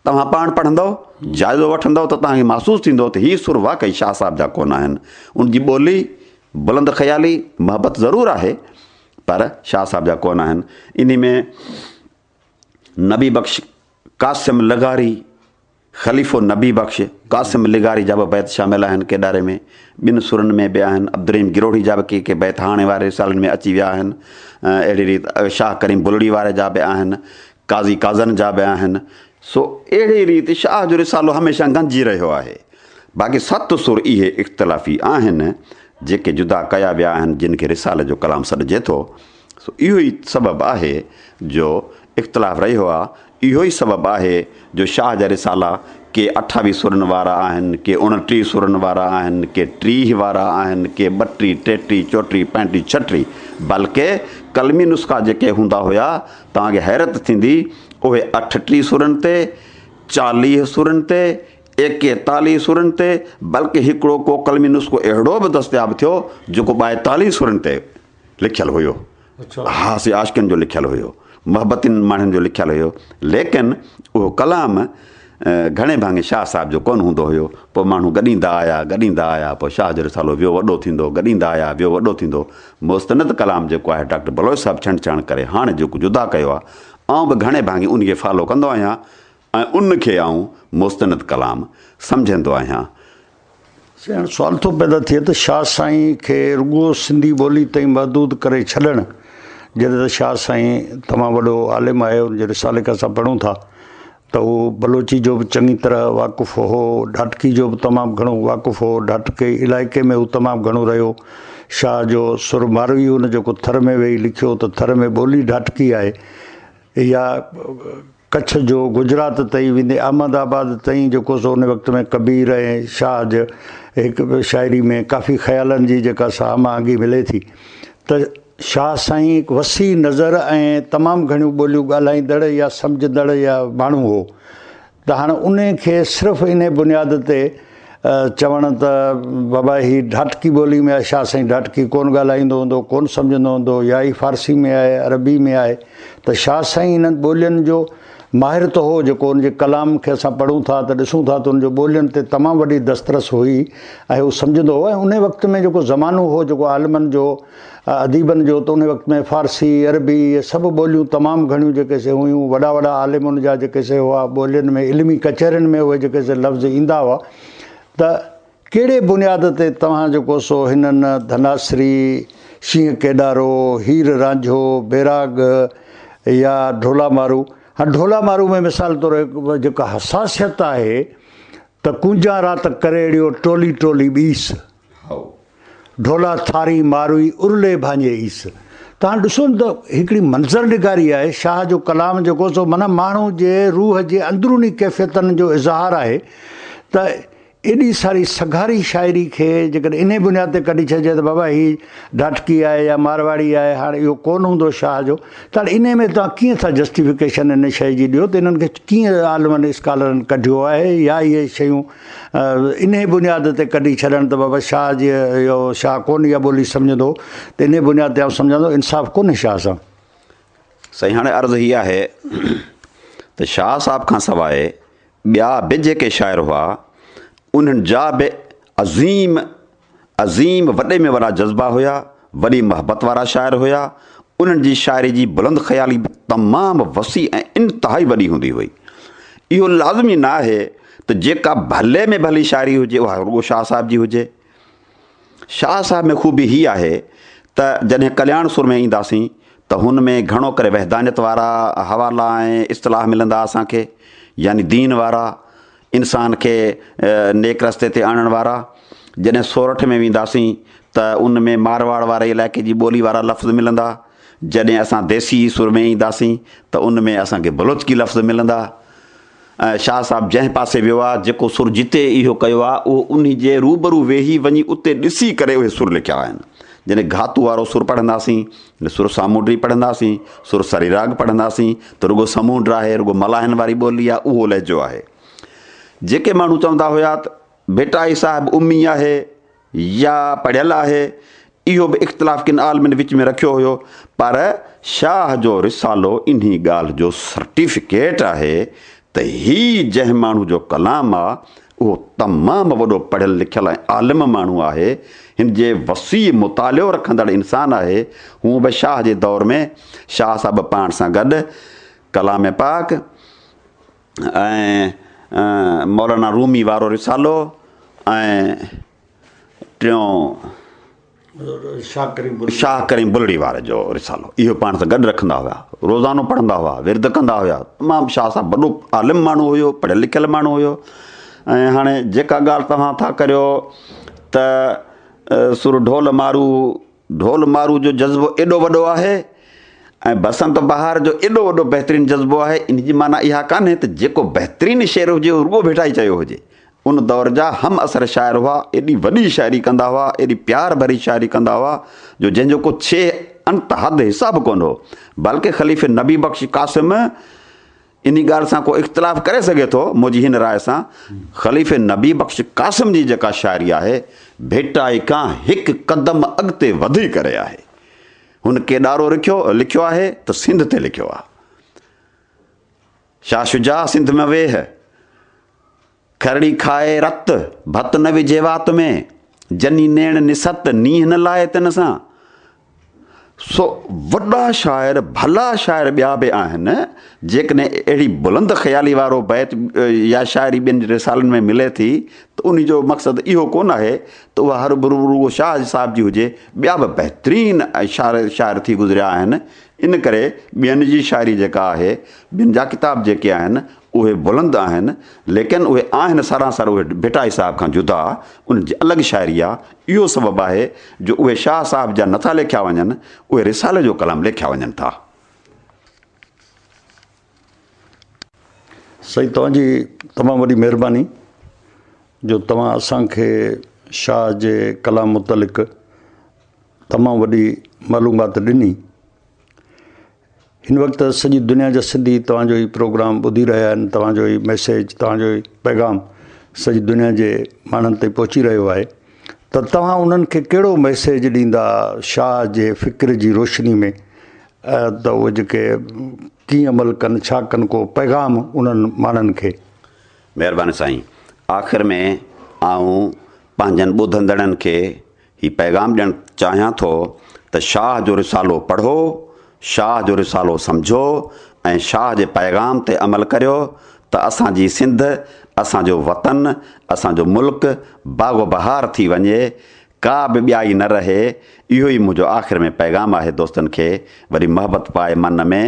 توهان پاڻ پڙهندؤ جائزو وٺندؤ ته توهان کي محسوس ٿيندو ته هي سر واقعي شاهه صاحب جا ڪونه آهن ان جي ٻولي بلند خيالي محبت ضرور آهي پر شاهه صاحب جا ڪونه آهن. انهي ۾ نبي بخش قاسم لغاري، خليفو نبي بخش قاسم لغاري جا به بيت شامل آهن ڪيڏاري ۾، ٻين سرن ۾ به آهن، عبدالرحيم گروهڙي جا به ڪي ڪي بيت هاڻي واري رسالن ۾ اچي ويا آهن. اهڙي ريت شاهه ڪريم بلڙي واري جا به آهن، قاضي قاضن جا به آهن. سو اهڙي ريت شاهه جو رسالو هميشه گنجي رهيو آهي. باقي ست سر اهي اختلافي آهن، جيڪي جدا ڪيا ويا آهن جن کي رسالي جو ڪلام سڏجي ٿو سو اهو ئي سبب آهي جو اختلاف رهيو آ اهو ئي سبب آهي جو شاهه جا رسالا ڪي اٺاويهه سرن وارا آهن ڪي اڻٽيهه سرن وارا آهن ڪي ٽيهه وارا آهن ڪي ٻٽيهه ٽيٽيهه چوٽيهه پنجٽيهه ڇهٽيهه بلڪه قلمي نسخا جيڪي هوندا هيا توهان کي حيرت ٿيندي اهي اٺٽيهه سرن تي چاليهه سرن تي ايڪيتاليهه سرن تي، بلڪ هڪڙو ڪو قلمي نسخو اهڙو به دستياب ٿيو، جيڪو ٻائيتاليهه سرن تي لکيل هيو. ها سي عاشقن جو لکيل هيو، محبتين ماڻهن جو لکيل هيو، ليڪن اهو ڪلام گهڻي ڀاڱي شاهه صاحب جو ڪونه هوندو هيو. پوء ماڻهو گڏيندا آيا، گڏيندا آيا، پوء شاهه جو رسالو ويو وڏو ٿيندو، گڏيندا آيا، ويو وڏو ٿيندو. مستند ڪلام جيڪو آهي، ڊاڪٽر بلوچ صاحب ڇنڊ ڇاڻ ڪري هاڻ جيڪو جدا ڪيو آهي، آئون به گهڻي ڀاڱي انهيء کي فالو ڪندو آهيان. ۽ ان کي آئون مستند ڪلام سمجهندو آهيان. هاڻي سوال ٿو پيدا ٿئي ته شاهه سائين کي رڳو سنڌي ٻولي تائين محدود ڪري ڇڏڻ جڏهن ته شاهه سائين تمام وڏو عالم آهي ان جو رسالي کي اسان پڙهون ٿا ته هو بلوچي جو به چڱي طرح واقف هو ڍاٽڪي جو به تمام گهڻو واقف هو ڍاٽڪي علائقي ۾ هو تمام گهڻو رهيو شاهه جو سر ماروي هو ان جيڪو ٿر ۾ ويهي لکيو ته ٿر ۾ ٻولي ڍاٽڪي آهي اها ڪڇ جو گجرات تائين ويندي احمد آباد تائين جيڪو سو ان وقت ۾ ڪبير ۽ شاهه جي هڪ شاعري ۾ ڪافي خيالن جي جيڪا سا هم آهنگي ملي ٿي ته شاهه سائين هڪ وسيع نظر ۽ تمام گهڻيون ٻوليون ڳالهائيندڙ يا سمجهندڙ يا ماڻهو هو ته هاڻ انهي کي صرف انهي بنياد تي چوڻ ته بابا هي ڍاٽڪي ٻولي ۾ آهي، شاهه سائين ڍاٽڪي ڪونه ڳالهائيندو هوندو، ڪونه سمجهندو هوندو يا هي فارسي ۾ آهي، عربي ۾ آهي ته شاهه سائين انهن ٻولين جو ماهر ته هو جيڪو ان جي ڪلام کي اسان پڙهون ٿا ته ڏسون ٿا ته ان جو ٻولين تي تمام وڏي دسترس هئي ۽ هو سمجهندو هو ۽ انهي وقت ۾ جيڪو زمانو هو جيڪو عالمن جو اديبن جو ته ان وقت ۾ فارسي، عربي اهي سڀ ٻوليون تمام گهڻيون جيڪي سي هيون، وڏا وڏا عالم ان جا جيڪي سي هئا، ٻولين ۾ علمي ڪچهرين ۾ اهي جيڪي سي لفظ ايندا هئا ته ڪهڙي بنياد تي توهان جيڪو سو هنن ڌناسري، شينهن ڪيڏارو، هير رانجهو، بيراڳ يا ڍولا مارو، هان ڍولا مارو ۾ مثال طور هڪ جيڪا حساسيت آهي ته ڪونجان رات ڪريڙيو ٽولي ٽولي ٻيس، هائو! ڍولا ٿاري ماروئي ارلي ڀانجي عيس. تان ڏسو نه ته هڪڙي منظر نگاري آهي. شاهه جو ڪلام جيڪو سو منه ماڻهو جي روح جي اندروني ڪيفيتن جو اظهار آهي ته ايڏي ساري سگهاري شاعري کي جيڪڏهن انهي بنياد تي ڪڍي ڇڏجي ته بابا هي ڍاٽڪي آهي يا مارواڙي آهي هاڻ اهو ڪونه هوندو شاهه جو ته هاڻ انهي ۾ توهان ڪيئن ٿا جسٽيفڪيشن ان شئي جي ڏيو ته انهن کي ڪيئن عالمن اسڪالرن ڪڍيو آهي يا اهي شيون انهيء بنياد تي ڪڍي ڇڏڻ ته بابا شاهه جي اهو شاهه ڪونه اها ٻولي سمجهندو ته انهيء بنياد تي آئون سمجهان ٿو انصاف ڪونهي شاهه سان. سائين هاڻي عرض هي آهي ته شاهه صاحب کان سواء ٻيا به جيڪي شاعر هئا انهن جا به عظيم عظيم وڏي ۾ وڏا جذبا هيا، وڏي محبت وارا شاعر هيا، انهن جي شاعري جي بلند خيالي به تمام وسيع ۽ انتهائي وڏي هوندي هئي. اهو لازمي نه آهي ته جيڪا ڀلي ۾ ڀلي شاعري هجي اها رڳو شاهه صاحب جي هجي. شاهه صاحب ۾ خوبي هي آهي ته جڏهن ڪلياڻ سر ۾ اينداسين ته هن ۾ گهڻو ڪري وحدانيت وارا حوالا ۽ اصطلاح ملندا اسان کي يعني دين وارا انسان کي نيڪ رستي تي آڻڻ وارا، جڏهن سورٺ ۾ وينداسين ته ان ۾ مارواڙ واري علائقي جي ٻولي وارا لفظ ملندا، جڏهن اسان ديسي سر ۾ اينداسين ته ان ۾ اسان کي بلوچڪي لفظ ملندا. شاهه صاحب جنهن پاسي ويو آهي، جيڪو سر جتي اهو ڪيو آهي، اهو انهي جي روبرو ويهي وڃي اتي ڏسي ڪري اهي سر لکيا آهن. جڏهن گهاتو وارو سر پڙهنداسين نه سر سامونڊي پڙهنداسين، سر سري راڳ پڙهنداسين ته رڳو سمونڊ آهي، رڳو ملاحن واري ٻولي آهي، اهو لهجو آهي. جيڪي ماڻهو چوندا هيا ته ڀٽائي صاحب امي آهي يا پڙهيل آهي، اهو به اختلاف ڪن عالمن وچ ۾ رکيو هيو، پر شاهه جو رسالو انهي ڳالهه جو سرٽيفڪيٽ آهي ته هي جنهن ماڻهو جو ڪلام آ، اهو تمام وڏو پڙهيل لکيل ۽ عالم ماڻهو آهي، هن جي وسيع مطالعو رکندڙ انسان آهي، هونء به شاهه جي دور ۾ شاهه صاحب پاڻ سان گڏ ڪلام پاڪ ۽ مولانا رومي وارو رسالو ۽ ٽيون شاهه ڪريم بلڙي واري جو رسالو اهو پاڻ سان گڏ رکندا هيا روزانو پڙهندا هئا ورد ڪندا هيا تمام شاهه صاحب وڏو عالم ماڻهو هيو پڙهيل لکيل ماڻهو هيو ۽ هاڻي جيڪا ڳالهه توهان ٿا ڪريو ته سر ڍول مارو ڍول مارو جو جذبو ايڏو وڏو آهي ۽ بسنت بهار جو ايڏو وڏو بهترين جذبو آهي ان جي معنيٰ اها ڪانهي ته جيڪو بهترين شعر هجي اهو رڳو ڀيٽائي چيو هجي ان دور جا همعصر شاعر هئا، ايڏي وڏي شاعري ڪندا هئا، ايڏي پيار ڀري شاعري ڪندا هئا جو جنهن جو ڪو ڇيهه انت حد حساب ڪونه هو. بلڪ خليفي نبي بخش قاسم انهي ڳالهه سان ڪو اختلاف ڪري سگهي ٿو منهنجي هن راء سان، خليفي نبي بخش قاسم جي جيڪا شاعري آهي، ڀٽائي کان هڪ قدم اڳتي وڌي ڪري آهي. هن ڪيڏارو رکيو لکيو آهي ته سنڌ تي لکيو آهي. شاهه شجاع سنڌ ۾ ويهه، کرڙي کائي رت، ڀت نه وجهي وات ۾، جني نيڻ نست، نينهن نه لائي تن سان. سو وڏا شاعر ڀلا شاعر ٻيا به آهن، جيڪڏهن اهڙي بلند خيالي وارو بيت يا شاعري ٻين رسالن ۾ ملي ٿي ته ان جو مقصد اهو ڪونه آهي ته اها هر رڳو شاهه صاحب جي هجي، ٻيا به بهترين شاعر ٿي گذريا آهن، ان ڪري ٻين جي شاعري جيڪا آهي، ٻين جا ڪتاب جيڪي آهن، اهي بلند آهن، ليڪن اهي آهن سراسر اهي ڀٽائي صاحب کان جدا، انهن جي الڳ شاعري آ، اهو سبب آهي جو اهي شاهه صاحب جا نٿا ليکيا وڃن، اهي رسالي جو ڪلام ليکيا وڃن ٿا. سائين توهان جي تمام وڏي مهرباني جو توهان اسان کي شاهه جي ڪلام متعلق تمام وڏي معلومات ڏني هن وقت سڄي دنيا جا سنڌي توهان جو ئي پروگرام ٻڌي رهيا آهن توهان جو ئي ميسيج توهان جو ئي پيغام سڄي دنيا جي ماڻهن تائين پهچي رهيو آهي ته توهان انهن کي ڪهڙو ميسيج ڏيندا شاهه جي فڪر جي روشني ۾ ته اهي جيڪي ڪيئن عمل ڪن ڇا ڪن ڪو پيغام انهن ماڻهن کي. مهرباني سائين آخر ۾ آئون پنهنجن ٻڌندڙن کي هي پيغام ڏيڻ چاهيان ٿو ته شاهه جو رسالو پڙهو شاهه جو رسالو سمجهو ۽ شاهه جي پيغام تي عمل ڪريو ته اسان جي سنڌ اسان جو وطن اسان جو ملڪ باغ و بهار ٿي وڃي ڪا به ٻيائي نه رهي اهو ئي منهنجو آخر ۾ پيغام آهي دوستن کي وري محبت پائي من ۾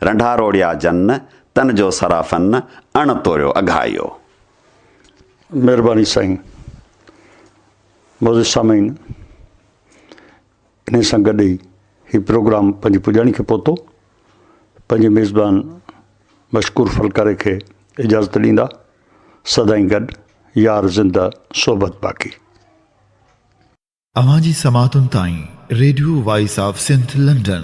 رنڍا روڙيا جن تن جو سرافن اڻ توريو اگهايو. مھرباني سائين معزز سامعين انھي سان گڏ ئي ھي پروگرام پنھنجي پڄاڻي کي پھتو پنھنجي ميزبان مشڪور ڦلڪاري کي اجازت ڏيندا سدائين گڏ يار زنده صحبت باقي. اوهان جي سماعتن تائين Radio Voice of Sindh London.